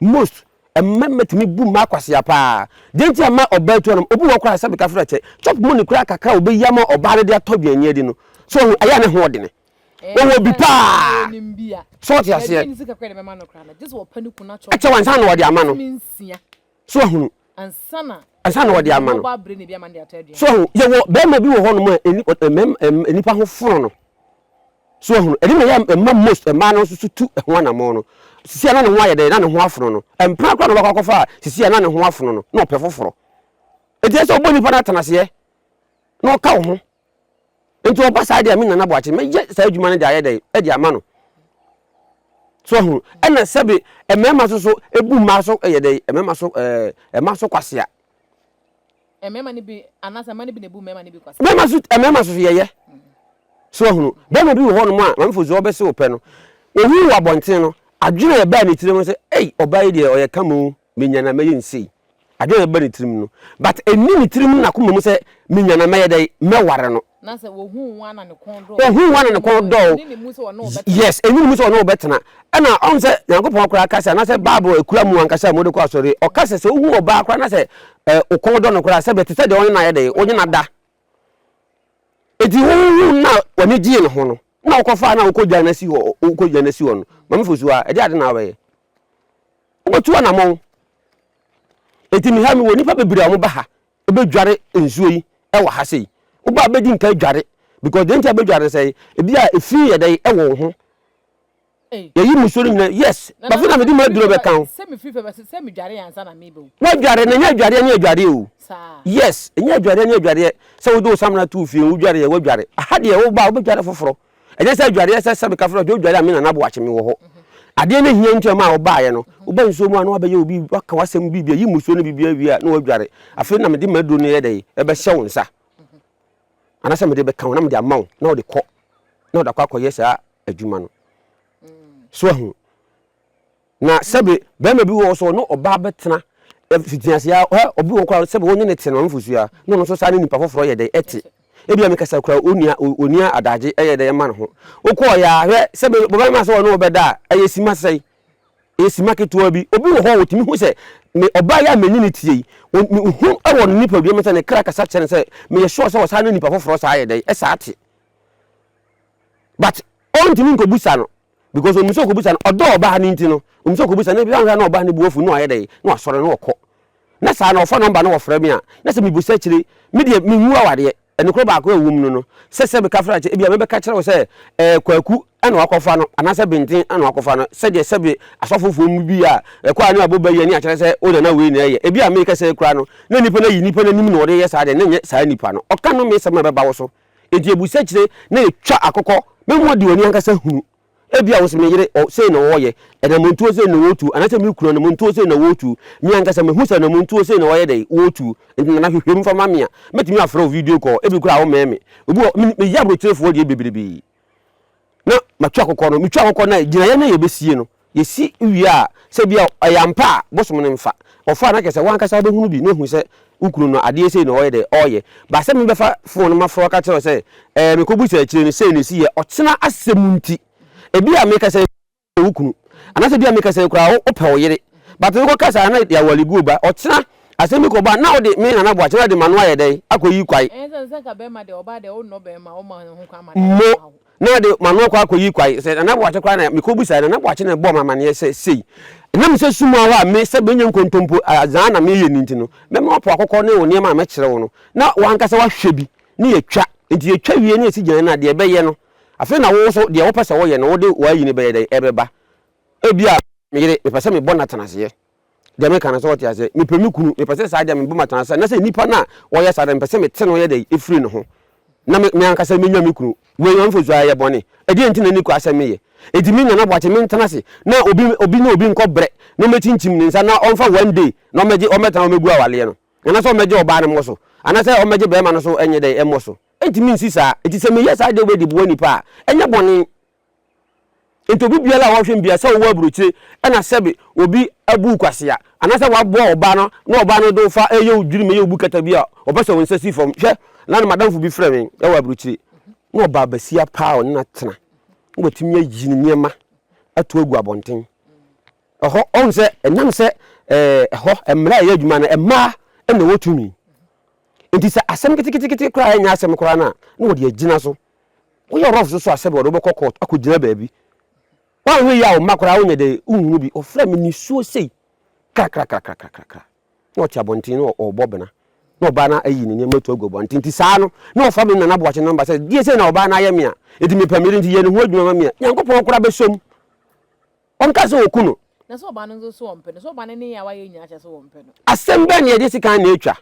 Most mmarima tumi bu mmaa kwasea paa. Deɛ nti a mmaa ɔbaa tu anom, obu wɔ hɔ koraa a sɛ me ka frɛ kyɛ, chop money koraa kakra a ɔbɛ yi ama ɔbaa no de atɔ aduane adi no, so ɔho ɛyɛ a ne ho ɔdene. wɔwɔ bi paa so ɔte aseɛ ɛkyɛ wa nsa na wɔde ama no so ahunu ansa na wɔde ama no so ahunu yɛwɔ bɛrima bi wɔ hɔ nom a nnipa ho fono no so ahunu ɛde na yɛ mma most mmaa no nso so tu ho anamɔ no sisi a na ne ho ayɛ dɛ na ne ho afono no mpena kora na ɔbɛkɔ akɔfa a sisi a na ne ho afono no na ɔpɛ foforɔ ɛti ɛsɛ ɔbɔ nnipa no atanaseɛ na ɔka wo ho Nti ɔba saa deɛ me Nana Boakye mɛyɛ saa adwuma no de ayɛ dɛn de ama no so ahunu ɛna sɛbe mmarima so so ebu mmaa so yɛ dɛn mmarima so ɛɛ mmaa so kwasea. Mmarima no bi anaasɛ mmaa no bi na ebu mmarima no bi kwasea. Mmarima so mmarima so so yɛyɛ so ahunu bɛrima bi wɔ hɔ nom a maame fosu ɔbɛsi wɔ pɛ no ohun wɔ abɔnten no adwene a ɛbaa ne tirim sɛ ei ɔbaa yi deɛ ɔyɛ kamoo. menya na mɛyɛ no sei. Adwene a ɛba ne tirim no, but ɛnni ne tirim ne n'akoma mu sɛ menya na mɛyɛ dɛn, mɛware no. Na sɛ ɔhu wo a na ne kɔn dɔ o. Ɔhu wo a na ne kɔn dɔ o. Ɛnni ne mu sɛ ɔne wo bɛtena. Yes, ɛnni ne mu sɛ ɔne wo bɛtena. Ɛna ɔhu sɛ Nyankopɔn koraa ka sɛ, anaasɛ Bible akura mu ankasa a mode kɔ asɔre, ɔka sɛ sɛ wohu ɔbaa koraa na sɛ wo kɔn dɔ no koraa sɛ bɛte sɛ deɛ ɔne no ayɛ dɛn, ɔne no ada. Enti wohu no a w'ani gyee ne ho no, na wokɔfaa no a wokɔgyaa no asi hɔ, wokɔgyaa no asi hɔ no, Maame Fosu a, ɛdeɛ ade na wobɛyɛ? Wobɛtu anammɔn. Enti me ha mewɔ nnipa bebree a wɔba ha bɛdware nsuo yi wɔ ha sei. Woba a bɛdi nka dware because deɛ nti a bɛdware no sɛ ebi a efi yɛ dɛ wɔ wo ho. Yɛyi musuo no nyinaa yes. Bafi na mede mu aduro bɛka ho. Wadware na ɛnyɛ adwareɛ ne adwareɛ o. Yes, ɛnyɛ adwareɛ ne adwareɛ sɛ wode wo samina to wo fie wodwareɛ wadware. Aha deɛ woba a wobɛdware foforɔ. ɛnyɛ sɛ adwareɛ sɛ sɛ mekafo no ɔde odware a me nana boakye me wɔ hɔ adeɛ no hia nti ɛma a ɔbaeɛ no woba nsuo mu a na wabɛyɛ obi waka wasɛm biribi a yi musuo no biribi awie a na wadware afei na mede maduro no yɛ dɛ ɛbɛhyɛ wo nsa anasɛ mede bɛka wo na mede ama wo na wode kɔ na wode akɔ akɔyɛ saa adwuma no so ahu Na sɛbe bɛrima bi wɔ hɔ sɛ ɔne ɔbaa bɛtena mfitiaseɛ ara, hɛ, obi wɔ hɔ koraa sɛbe wone no te no nufosuo ara na ɔno nso saa ne nipa foforɔ yɛ dɛn te. Ebia mekasa koraa onua, ɔnni adagye ɛyɛ dɛn ɛma ne ho. Wokɔɔeɛ ara, hwɛ, sɛbe bɛrima sɛ ɔne wo bɛda a, ɛyɛ sima sɛn? Ɛyɛ sima ketewa bi. Obi wɔ hɔ a ɔtumi hu sɛ me ɔbaa yi a mene no teɛ yi, mehu wɔ ne nipadua mu sɛ ne kra kasa kyerɛ no sɛ meyɛ sure sɛ ɔsan ne nipa foforɔ saa yɛ dɛn, ɛsaa te. But ɔntumi nkɔbisa no, Because onim sɛ ɔkɔbisa no, ɔdɔ ɔbaa no nti no, onim sɛ ɔkɔbisa no, ebia na ɔbaa no bu afu na wayɛ dɛn, na wasɔre na ɔkɔ. Na saa na ɔfa nɔmba na ɔfrɛ me a, na sɛ mebusa akyire, me deɛ menwu awadeɛ. Nokorɛ baako a ɛwɔ mu no no, sɛ sɛ meka frɛ akyɛ, ebia mɛbɛka akyerɛ wo sɛ ɛɛ Kwaku na wakɔfa no, anaasɛ Benten na wakɔfa no, sɛdeɛ sɛbe asɔfofoɔ mu bi a ɛkɔ a ne abɔ ba yi ani akyerɛ sɛ wo nana wei na ɛyɛ. Ebia meeka saa yi koraa no, na nipa no ayi nipa no anim na ɔde reyɛ saa deɛ, na ɛnyɛ saa nipa no. Ɔka nnomeesɛm a ɛbɛba wo so. Enti ebu sakyire na etwa akokɔ. Me mmoa di w'ani ankasa hunu. Ebia wo se, 'Me yere, ɔ, sei na ɔɔyɛ. Anamontuo sei na ɔɔtu. Anaasɛ, 'Me kunu, anamontuo sei na ɔɔtu. Me ankasa, mehu sɛ anamontuo sei na ɔɔyɛ dɛn? Ɔɔtu. Enti nana, hwehwɛ mu fa ma me a, mɛtumi afrɛ wo video call. Ebi koraa, wommɛn me. Obi wɔ hɔ, me, meyɛ aburokyerefoɔ deɛ bebrebe. na matu akokɔ no, metu akokɔ no a gyinaeɛ no a yɛbɛsie no, yɛsi wie a, sɛ bia ɛyɛ ampa a, bosom no mfa. Ɔfa a na kyerɛ sɛ w'ankasa wobɛhunu bi na ahu sɛ wo kunu no adeɛ sei na ɔyɛ dɛ, ɔyɛ. But sɛ mebɛfa phone no mafrɛ wo aka kyerɛ wo sɛ ɛɛ mekɔbu sɛ akyire no sei na ɛsiiɛ, ɔkyena asɛm nti, ɛbi a mekasa yi, yɛ wo kunu anaasɛ bia meka sɛ koraa wopɛ wo yere but mekɔ kasa a na yɛawale guo ba ɔkyena asɛm bi kɔba na wode me nana boakye na de mano ayɛ dɛn akɔ yi kwae mo na de mano akɔ akɔ yi kwae sɛ nana boakye koraa na mekɔ busa nana boakye na ɛbɔ mamaneɛ sɛ sei na me sɛ sumu ahɔ a me sɛ bɛnya nkontompo azaa na meyɛ ni nti no mɛma wapo akɔkɔ ne wo nneɛma a mɛkyerɛ wo no na wankasa wahwɛ bi ne yɛtwa nti yɛtwa wie ne yɛsi gyina no a deɛ ɛbɛyɛ no Afei na wo nso, deɛ wopɛ sɛ woyɛ no, wode w'ayi no bɛyɛ dɛn? Ɛbɛba. Ebia, me yere, mepɛ sɛ mebɔ no atenaseɛ. Deɛ meka no, sɛ wote aseɛ? Mepɛ me kunu, mepɛ sɛ saa deɛ mebɔ me atenaseɛ. Na sɛ nnipa no a wɔyɛ saa deɛ, mepɛ sɛ mete no yɛ dɛn? Ɛfiri ne ho. Na me, me ankasa menya me kunu. Wei ɔmfa nsuo ayɛ bɔne. Ɛdeɛn nti na ne kura sɛ meyɛ? Enti me Nana Boakye, mentena ase na obi, obi ne obi nkɔ brɛ na ɔmmɛkyinkyim ne nsa na ɔmfa one day na ɔmmɛgye, ɔmmɛtena hɔ mmɛgu awaleɛ no? Anaasɛ ɔmmɛgye ɔbaa no mmɔ so? Anaasɛ ɔmmɛgye barima no so nyɛ dɛn mmɔ so? Entumi nsi saa. Enti sɛ meyɛ saa de wobedi boa nnipa a, ɛnyɛ bɔne. Enti obi biara a ɔhwɛ me biara, sɛ ɔwɔ aburokyire na sɛbe obi abu wo kwasea, anaasɛ wabɔ ɔbaa no na ɔbaa no de wo fa reyɛ wo dwiri mu yɛ wo bukata bi a, ɔpɛ sɛ wo nsa si fam. Hwɛ, nnɛ no m'adamfo bi frɛɛ me wɔ aburokyire. Na ɔbaa basia paa a ɔne no atena, na watumi ayi ne nneɛma ato agu abɔnten. Ɛhɔ, ɔhu sɛ ɛnam sɛ ɛhɔ mmara a ɛyɛ adwuma no, mmaa na ɛwɔ tumi. Enti sɛ asɛm ketekete koraa a ɛnyɛ asɛm koraa no a, na wɔde agyina so. Woyɛ rough so so a, sɛbe wɔde wobɛkɔ court akɔgyina baabi. Woanhwɛ yie a, wo mma koraa wonyɛ dɛ wonhunu bi. Ɔfrɛɛ me nisuo sei krakrakrakrakrakra. Na ɔte abɔnten na ɔrebɔ bena. Na ɔbaa no ayi ne nneɛma atu agu abɔnten. Enti saa no, na ɔfrɛ me Nana Boakye number sɛ, deɛ sei na ɔbaa no ayɛ me a, enti mepɛ me yere, enti yɛ ne ho adwuma ma me a, Nyankopɔn koraa bɛsɔ mu. Wɔnka sɛ wɔku no. Na sɛ ɔba no nso so wɔmpɛ no? Sɛ ɔba no ne yɛ a wayɛ nyinaa kyerɛ sɛ wɔmpɛ no? Asɛm bɛn na yɛde sekan na ɛtwa?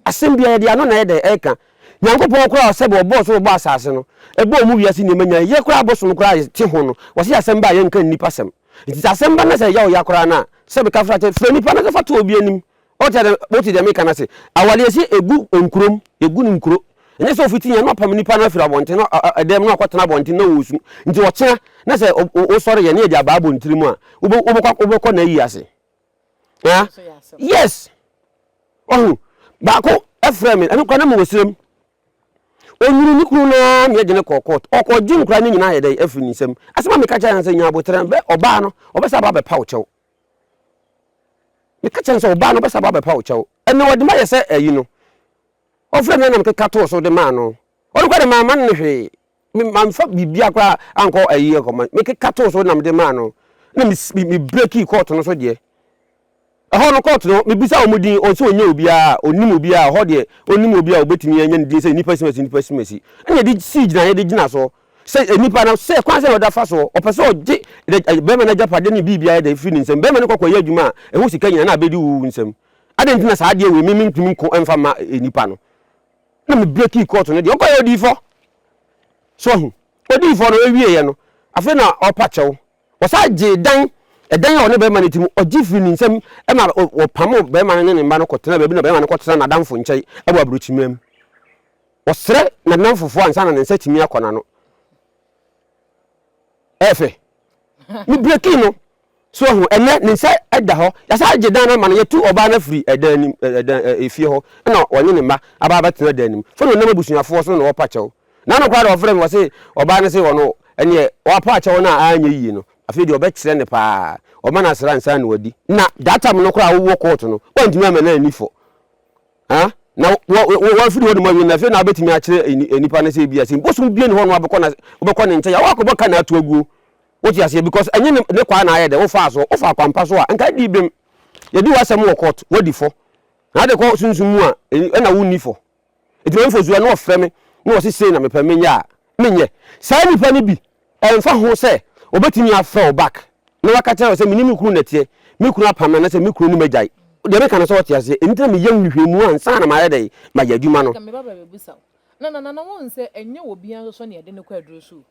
Asɛm biara, yɛde ano na ɛyɛ dɛn ɛka? Nyankopɔn koraa ɔ sɛbɛ ɔbɔɔ soro ɔbɔɔ asase no, ɛbɔɔ mu wiase nneɛma nyinaa, yɛ koraa abosom koraa a yɛ te ho no, ɔ se asɛm ba a yɛnka nnipa sɛm. Nti sɛ asɛm ba na sɛ ɛyaw yɛ koraa no a, sɛbɛ ka fra kyɛ, fra nnipa na ka fa to obi anim Ɔkyerɛ dɛ, Motse dza mekã no ase. Awar yɛse egu nkurow mu, yegu no nkuro. Nnyɛ sɛ ofitsi hɛn na ɔpam nyimpa no afir abɔntsen na ɔda mu na ɔakɔtsena abɔntsen na orusu. Ntsi ɔkyena na sɛ wosɔr yɛ na yɛdze abaa abɔntsir mu a, wobɔkɔ n'eyi ase. Aa! Yes! Wahu? Baako frɛɛ me, emi koraa na mowɔ serɛ mu. Onyuun no kun no ara ma yɛdze no kɔr court. Ɔkɔgye nkora no nyina ayɛ dɛn? Efir ne nsamu. Asɛm a mekã kyerɛɛ no nye dɛ, nya aboterɛ, bɛ ɔbaa no, ɔbɛsan aba abɛpa wo kyɛw. Meka kyerɛ no sɛ, Ɔbaa no, wobɛsan aba abɛpa wo kyɛw. Ɛnna ɔde ma yɛ sɛ ayi no. Ɔfrɛɛ me na nam keka too so de maa no. Ɔno koraa de, mamma no hwee. Me, mamfa biribiara koraa ankɔ ayi akɔma. Mekeka too so nam de maa no. Ɛnna me, me, me breakii kɔɔto no so deɛ. Ɛhɔ no, kɔɔto no, mebisaa wɔn din, wɔn sɛ wɔnyɛ obiara, ɔnnim obiara, ɛhɔ deɛ, ɔnnim obiara a ɔbɛtumi anya ne din sɛ nnipa simasi, nnipa simasi. Ɛnna yɛde sii gyinaeɛ de gyina so. Sɛ nipa no, sɛ kwan sɛn na ɔde afa so? Ɔpɛ sɛ ɔgye n'agya, barima no agyapade ne biribiara de afiri ne nsam. Barima no kɔ kɔyɛ adwuma a ɛho sika nyinaa na abɛdi wo nsam. Adɛn nti na saa adeɛ wei me mentumi nko mfa mma nipa no? Na me breakii kɔɔto no deɛ, ɔkɔeɛ ɔdii fɔ. So ahu? Ɔdii fɔ no, ɔwieeɛ no, afei na ɔrepa kyɛw. Ɔsan gyee dan, ɛdan a ɔne barima no te mu, ɔgye firii ne nsam ma wɔpamoo barima no ne ne mma no kɔtenaa baabi na barima no kɔtena n'adamfo nkyɛn wɔ aburokyimmam. Ɔsrɛ n'adamfofoɔ ansa na ne nsa atumi akɔ n'ano. Ɛyɛ fɛ. Me breaking no. So ahu, ɛnɛ ne nsa da hɔ. Yɛasan agye dan no ama no. Yɛatu ɔbaa no afiri ɛdan nim, ɛdan, efie hɔ. Ɛna ɔnye ne mma aba abɛtena dan no mu. Fɛ na ɔnam abusuafoɔ so na wɔpa kyɛw. N'ano koraa de wɔfrɛ me, wɔse ɔbaa no se ɔno, ɛneɛ wɔapa akyɛw no a anyɛ yie no, afei deɛ wɔbɛkyerɛ no paa. Wɔma no asra ansa na wadi. Na that time no koraa a wowɔ court no, woantumi amma no anni fɔ. Huh? Na wo- wo- wo- wo- wafiri hɔ nom awie no, afei na wobɛtumi akyerɛ ni- eh, nipa no sɛ ebia sɛ bosom bie ne hɔ no wabɛkɔ na wobɛkɔ ne nkyɛn a woakɔbɔ ka na ato aguo wote aseɛ because ɛnyɛ ne ne kwaa na ayɛ dɛ wofaa so wofaa kwampa so a nka di bem yɛdi w'asɛm wɔ court wadi fɔ na ade kɔ sunsum mu a ɛn- ɛna wonni fɔ nti mamfo so a na wɔfrɛ me na wɔse sei na mepɛ menyɛ a menyɛ saa nipa no bi Ɛmfa ho sɛ wɔbɛtumi afrɛ wo back na wɔaka kyerɛ wo sɛ me ne me kunu na ɛteɛ, me kunu apam me anaasɛ me kunu ne me agyae, deɛ meka no sɛ wote aseɛ, enti na meyɛ nhwehwɛmu ansa na mayɛ dɛn? mayɛ adwuma no. Anka me ba bɛbɛbisa wo. Na na na wohu sɛ ɛnyɛ obiara nso so na yɛde no kɔ aduro so o.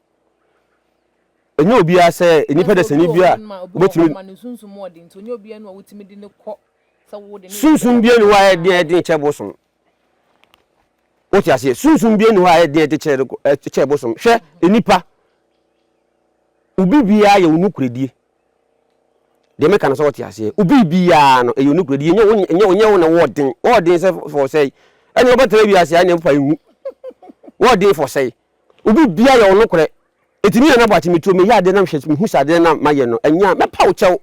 Ɛnyɛ obiara sɛ nnipa dasani bi a wobɛtumi. Ma ne sunsum mu ɔden nti ɔnyɛ obiara na wotumi de no kɔ sɛ wode no. Sunsum biara nni hɔ a ɛyɛ den kyɛ bosom. Wote aseɛ? Sunsum biara nni hɔ a ɛyɛ den a ɛte kyɛ kyɛ bosom. Hwɛ, nnipa, obi biara yɛ wo nokorɛdie. Deɛ meka no sɛ wote aseɛ. Obi biara no, ɛyɛ wo nokorɛdie. Ɛnyɛ wo ɛnyɛ ɛnyɛ wo na wɔɔ den. Wɔɔ den sɛ fɔ sɛe. Ɛne wobɛtena wiase a ɛne fa nwu. Wɔɔ den fɔ sɛe. Obi biara yɛ wo nokorɛ. Ɛti ne yɛn abɔ akye metuo meyɛ adeɛ na mehwɛ mehu sɛ adeɛ na mayɛ no ɛnyɛ a mɛpa wo kyɛw.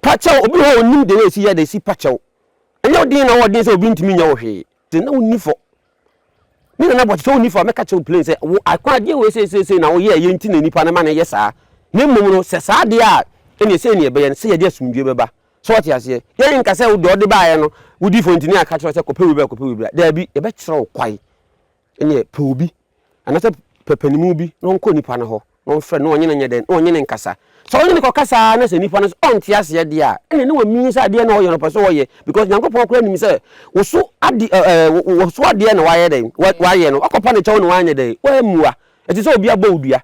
Pa kyɛw, obi wɔ hɔ a onnim den a esi yɛ a na esi pa kyɛw. Ɛnyɛ wo den na wɔden sɛ obi ntumi nyɛ wo hwee, te na wonni fɔ. Me nana bɔ sɛ wonni fɔ a mɛka kyɛw plain sɛ wo akwa adeɛ wei sɛ sɛ na woyɛ ɛyɛ nti na nipa no ma no yɛ saa. Na mmom no sɛ saa adeɛ a ɛne sɛ ne ɛbɛyɛ no sɛ yɛde asomdwie bɛba. So wɔte aseɛ? Yɛn nka sɛ deɛ ɔde baeɛ no wodi fɔ nti ne yɛaka kyerɛ sɛ kɔpɛ wei bra kɔpɛ wei bra. Daabi, yɛbɛkyerɛ wo kwae Ɛnneɛ pɛ obi, anaasɛ pɛ panimu bi na ɔnkɔ nipa no hɔ na ɔmfrɛ no na ɔnye no nyɛ dɛn? Na ɔnye no nkasa. Sɛ ɔnye no kɔkasa ara na sɛ nipa no nso ɔnte aseɛ deɛ a, ɛnneɛ na wamie sɛ adeɛ na ɔyɛ no ɔpɛ sɛ ɔyɛ because Nyankopɔn koraa nim sɛ wo so ade ɛɛ wo so adeɛ na wayɛ dɛn? Wayɛ no. Wakɔpa no kyɛw na wanyɛ dɛn? Wammua. Ɛte sɛ obi abɔ wo dua.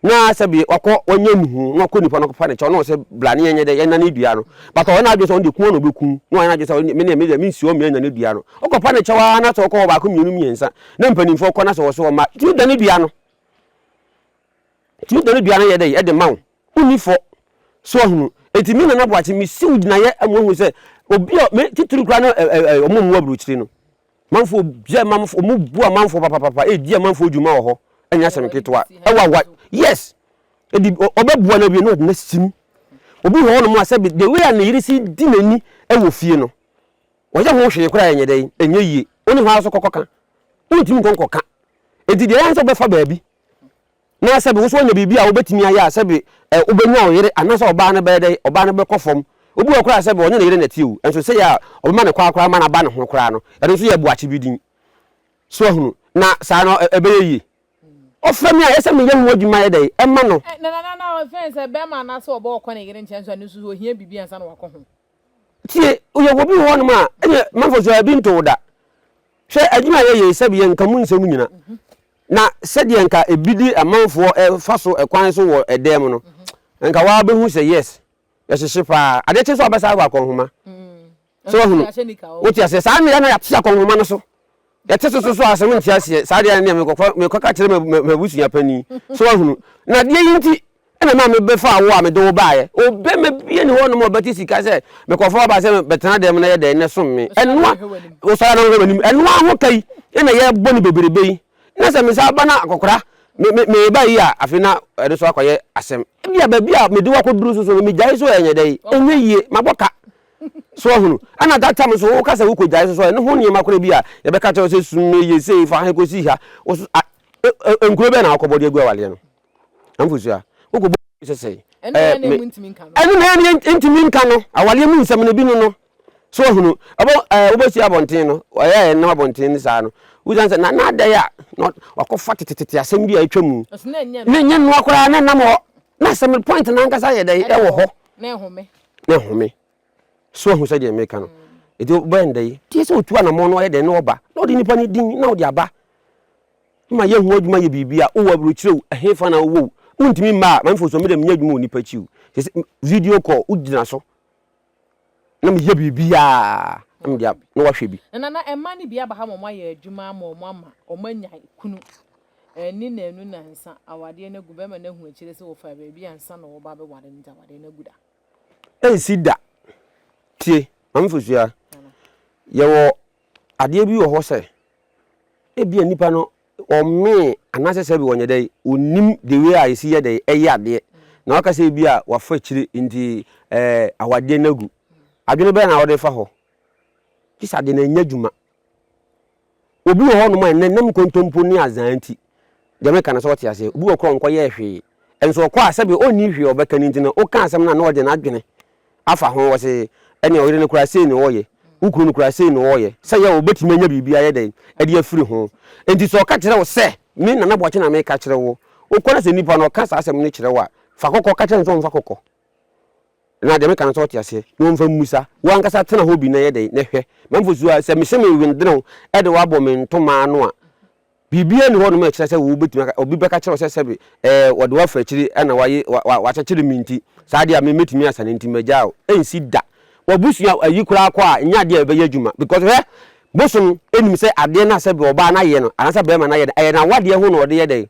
na sɛ bi wakɔ wanya ne ho na wakɔ nipa no akɔfa ne kyɛw na ɔsɛ bla ne yɛnyɛ dɛ yɛnna ne dua no but ɔyɛ n'adwene sɛ ɔno deɛ kun na ɔbɛku na ɔyɛ n'adwene sɛ me ne me deɛ mensi hɔ mmiɛnna ne dua no wokɔfa ne kyɛw ara na sɛ ɔkɔ hɔ baako mmienu mmiɛnsa na mpanimfoɔ kɔ na sɛ wɔso ɔma tumi da ne dua no tumi da ne dua no yɛ dɛ ɛde ma wo wonni fɔ so ahunu eti me nana boakye mesiw gyinaeɛ amuahu sɛ obi a me titiri kura no ɔmo mu aburukyiri no Manfoɔ yɛ manfoɔ, ɔmo bu amanfoɔ papapapa, edi amanfoɔ dwuma wɔ hɔ, ɛnyɛ asɛm ketewa, ɛwɔ awa, yes, edi ɔbɛboa no awie na ɔde no asim. Obi wɔ hɔnom a sɛbi the way a ne yere si di n'ani ɛwɔ fie no, ɔyɛ ho hwee koraa ɛnyɛ dɛn, ɛnyɛ yie, wo ne hɔ ara so kɔkɔka, wontumi nkɔ nkɔka, enti deɛ ɛyɛ ara ne sɛ wobɛfa baabi. na sɛbe wo nso woanya biribi a wobɛtumi ayɛ a, sɛbe ɛ, wobɛnya wo yere anaasɛ ɔbaa no bɛyɛ dɛn? Ɔbaa no bɛkɔ fam. Obi wɔ hɔ koraa a, sɛbe ɔnyɛ ne yere na ɛteɛ o, nso sɛ yɛ a ɔbɛma ne kwaa koraa ma no aba ne ho koraa no, ɛno nso yɛ boakye bi din. So ahunu? Na saa no, ɛ, ɛbɛyɛ yie. Ɔfrɛ me a, ɛyɛ sɛ meyɛ ho adwuma yɛ dɛn? Ɛma no. Ɛ, na, na, na, na ɔfɛn sɛ bɛrima anaasɛ ɔbaa ɔkɔ ne yere nkyɛn nso a, ɛno nso so ohia biribi ansa na wakɔ ho. Tie, woyɛ obi wɔ hɔnom a, ɛnyɛ manfo so a ebi nto wo da. Hwɛ adwuma a yɛyɛ yi, sɛbi yɛ nka mu nsɛm nyina. Na sɛdeɛ nka ebi de amanfoɔ fa so kwan so wɔ ɛdɛɛ mu no, nka waa bɛhu sɛ yes, yɛhyehye paa. Adeɛ kye nso a wobɛsa ahwɛ akɔnhoma. Sɛ wahunu, wote aseɛ, saa mmerɛ na yɛate akɔnhoma no so. Yɛte so so so a, sɛ wonte aseɛ saa deɛ neɛ mekɔkɔ mekɔka kyerɛ ma ma m'abusua panin. So wahunu? Na adeɛ yi nti na ɛma mebɛfaa wo a mede wo baeɛ. Ɔbarima biara nni hɔnom a ɔbɛte sika sɛ mekɔfa wo aba sɛ bɛtena dan mu na yɛ dɛn? Na som me. Ɛno a, wosɔre a na wohwɛ m'anim. Ɛno ara ho ka yi na yɛrebɔ no bebrebe yi. Na sɛ mesan ba na akɔkora me me mereba yi a, afei na ɛno nso akɔyɛ asɛm. Ebia baabi a mede wo akɔduru so so no, megyae so a ɛnyɛ dɛn? Ɛnyɛ yie. Mabɔ ka. So wahunu? Ɛna that time nso woka sɛ wokɔgyae so so ɛno ho nneɛma koraa bi a yɛbɛka kyerɛ wo sɛ sum no yɛ sei fa ha kɔsi ha wo so a ɛ- ɛ- nkuro bɛn na wokɔbɔ de agu awaleɛ no amfosua wokɔbɔ sɛ sɛi ɛne ɛ, hɛn na me ɛmu ntumi nka no ɛno na ɛne yɛn ntumi nka no awaleɛ mu nsɛm no bi no no so wahunu ɛbɔ ɛɛ wobɛsi abɔnten no ɔyɛ ɛnam abɔnten no saa no wosiane sɛ na n'adɛn a na ɔt- wakɔfa tetetete asɛm bi a atwa mu ɛso na ɛnyɛ ne nnoa nyɛ nnoa koraa na ɛnam hɔ na asɛm no point no ankasa yɛ dɛn ɛwɔ hɔ na ɛhome na ɛhome. So ahu sɛdeɛ meka no? Ɛti wobɛyɛ ndɛ yi, deɛ sɛ ɔtu anamɔ no ɔyɛ dɛn na ɔba na ɔde nipa no din na ɔde aba ma yɛ ho adwuma yɛ biribi a wowɔ aburokyire o, ɛhefa na wowɔ o, wontumi mma a, mamfo so mede menyɛ adwuma wɔ nipa akyi o, sɛ video call wogyina so na meyɛ biribi a na mede na wahwɛ bi. Nana, mmaa no bi aba ha ma wɔayɛ adwuma ama wɔn ama wɔanya kunu. anni nnanu nnansa awadeɛ no agu bɛma no ahu akyire sɛ wɔfaa baabi ansa na wɔreba abɛware no nti awadeɛ no agu da. Ɛnsi da. Tie, Maame Fosuaa, yɛwɔ adeɛ bi wɔ hɔ sɛ ebia nipa no ɔmmee anaasɛ sɛbi wɔnyɛ dɛ ɔnnim the way a yɛsi yɛ dɛ ɛyɛ adeɛ na waka sɛ ebia wafa akyire nti ɛɛ awadeɛ no agu. Adwene bɛn na wode fa hɔ? Gye sɛ ade no anya adwuma. Obi wɔ hɔnom a nnɛ nam nkontompo ne azaa nti, deɛ meka no sɛ ɔte aseɛ. Obi wɔ korɔ ɔnkɔyɛɛ hwee, nso ɔkɔ a sɛbe ɔnni hwee a ɔbɛka no nti no woka asɛm no a na ɔde n'adwene afa ho, ɔse ɛnneɛ ɔyere no koraa sei na ɔɔyɛ, wo kunu no koraa sei na ɔɔyɛ, sɛ yɛ a ɔbɛtumi anya biribi ayɛ dɛn de afiri ho. Nti sɛ ɔka kyerɛ wo sɛ, me Nana Boakye na meka kyerɛ wo, wokɔ na sɛ nipa no ɔka saa asɛm no kyerɛ wo a, fa kɔkɔ ka kyerɛ no sɛ ɔmfa kɔkɔ. Na deɛ meka no sɛ ɔte aseɛ na ɔmfa mmusa. Wo ankasa tena hɔ bi na yɛ dɛn? Na hwɛ, m'amfo suro a sɛ mehyɛ me nwendenew de wo abɔ me ntoma ano a, biribiara nni hɔnom a ɛkyerɛ sɛ wɔbɛtumi aka, obi bɛka kyerɛ wo sɛ sɛbe ɛɛ wɔde wo afa akyiri na wɔaye, wa, wa, wɔakyekyere me nti, saa adeɛ a me, mɛtumi asane nti magyaa wo. Ɛnsi da. W'abusua ayi koraa kɔ a, ɛnyɛ adeɛ a ɛbɛyɛ adwuma. Because hwɛ, bosom nim sɛ adeɛ no a sɛbe ɔbaa no ayɛ no, anaasɛ barima no ayɛ no, ɛyɛ n'awadeɛ ho na ɔde yɛ dɛn?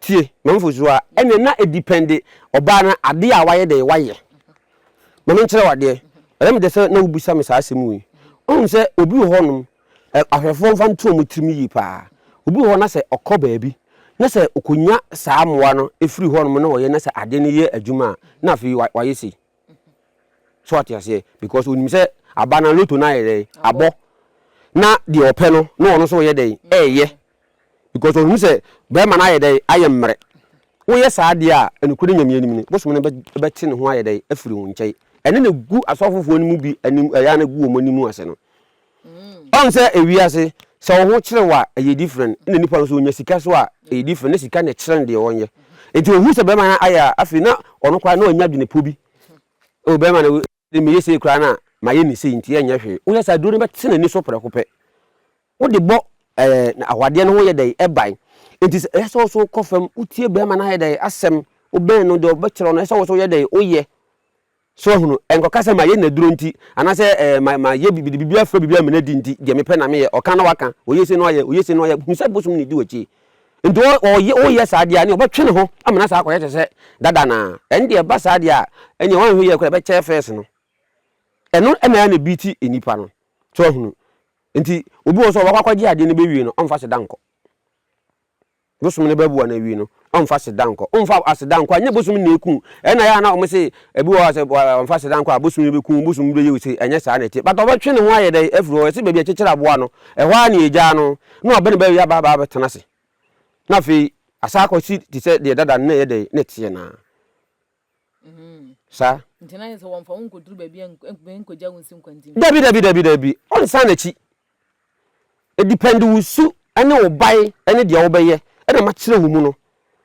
Tie, mamfo so a, ɛnneɛ na edipɛnde ɔbaa no adeɛ a wayɛ dɛn wayɛ. Ma menkyerɛ wo adeɛ, ɛyɛ me dɛ sɛ na wobisa me saa asɛm wei. Woahu sɛ obi wɔ hɔnom, ɛ, ahwɛfoɔ mfa nto wɔn tirim yie pa ara. Obi wɔ hɔ na sɛ ɔkɔ baabi, na sɛ ɔkɔnya saa mmoa no firi hɔnom na ɔyɛ na sɛ adeɛ no yɛ adwuma a, na afei wa, wayɛ sei. So wate aseɛ? Because ɔnim sɛ aba no a, loto no ayɛ dɛn? Abɔ. Na deɛ ɔpɛ no, na ɔno nso reyɛ dɛn? Reyɛ. Because ɔhu sɛ bɛɛma no ayɛ dɛn ayɛ mmerɛ. Woyɛ saa deɛ a ɛnokorɛ Nyame anim no bosom no bɛte ne ho ayɛ dɛn afiri wo nkyɛn. Ɛno na ɛgu asɔfofoɔ no mu bi anim ɛyɛ a na ɛgu wɔn anim ase no. Ɔhu sɛ ewiase sɛ wo ho kyere wo a ɛyɛ different na nipa no so ɔnya sika so a ɛyɛ different na sika na ɛkyerɛ no deɛ ɔnyɛ. Nti ɔhu sɛ bɛɛma no ayɛ a afei na ɔno koraa na ɔnya adwene po bi ɛwɔ bɛɛma no Sɛ meyɛ sei koraa no a, mayɛ me sei nti ɛnyɛ hwee. Woyɛ saa a, aduro no bɛte n'ani so prɛko pɛ. Wode bɔ ɛɛ awadeɛ no ho yɛ dɛn? Ɛban. Nti sɛ ɛyɛ sɛ wo nso wokɔ fam, wotie barima no ayɛ dɛn? Asɛm. Wobɛn no, deɛ ɔbɛkyerɛ no, ɛyɛ sɛ wo nso woyɛ dɛn? Woyɛ. So wahunu? Ɛnkɔka sɛ mayɛ n'aduro nti, anaasɛ ɛɛ ma mayɛ biribi, de biribi afra biribi ama no adi nti, deɛ mepɛ na meyɛ. Ɔka na waka, ɔyɛ sei na wayɛ, ɔyɛ sei na wayɛ. Hunu sɛ bosom na ɛdi w'akyi. Nti ɔyɛ woyɛ saa deɛ a ɛneɛ ɔbɛtwe ne ho ama no asa akɔyɛ te sɛ dada anaa? Ɛno deɛ ɛba saa deɛ a ɛneɛ wanhwɛ yie koraa ɛbɛkyɛɛ first no. Ɛno na ɛyɛ na ɛbeati nnipa no. So wahunu? Nti obi wɔ hɔ sɛ ɔbɛkɔ akɔgye adeɛ no bɛwie no ɔmfa seda nkɔ. Bosom no bɛboa no awie no ɔmfa seda nkɔ. Ɔmfa aseda nkɔ a nyɛ bosom na ɛku wo. Ɛno na ɛyɛ a na wɔn se ebi wɔ hɔ a sɛ wɔmfa aseda nkɔ a bosom no bɛku wo, bosom no bɛyɛ wo sei. Ɛnyɛ saa na ɛteɛ. But ɔbɛtwe ne ho ayɛ dɛn afiri hɔ? Ɛse baabi a ɛkyekyere aboa no ɛhɔ ara na ɛgyaa no. Na ɔbɛn bɛ wia baa baa bɛ tena ase. Na afei asaa akɔ si te sɛ deɛ dada no na ɛyɛ dɛ na ɛteɛ naa. Saa. Nti na yɛ sɛ wɔmfa wo nkɔduru baabi a nkɔgya wo nsi nkwantin. Dabi dabi dabi dabi ɔnsan n'akyi. Ɛdipɛnde wo su ne wo bae ne deɛ wobɛyɛ na makyerɛ wo mu no.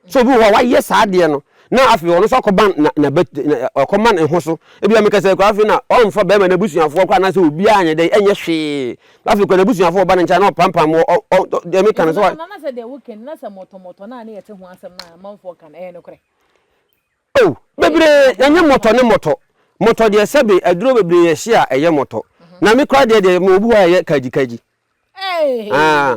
So obi wɔ hɔ a wayɛ saa adeɛ no na afei ɔno nso akɔba na na bɛ na ɔkɔma ne ho so ebi a meka sɛ koraa afei na ɔmfa bɛrima n'abusuafoɔ koraa anaasɛ obiara nyɛ dɛ ɛnyɛ hwee na afei koraa n'abusuafoɔ ɔba ne nkyɛn na ɔpampam wɔ ɔ ɔ ɔ deɛ meka no sɛ wa. Nana na sɛ deɛ wo kɛn na sɛ mɔtɔmɔtɔ na ne yɛ te ho asɛm na amanfoɔ ka no ɛyɛ nokorɛ. Oh bebree ɛnyɛ mɔtɔ ne mɔtɔ mɔtɔ deɛ sɛbe aduro bebree yɛ hye a ɛyɛ mɔtɔ na me koraa deɛ deɛ mewɔ bi hɔ a ɛyɛ kagyi kagyi ah.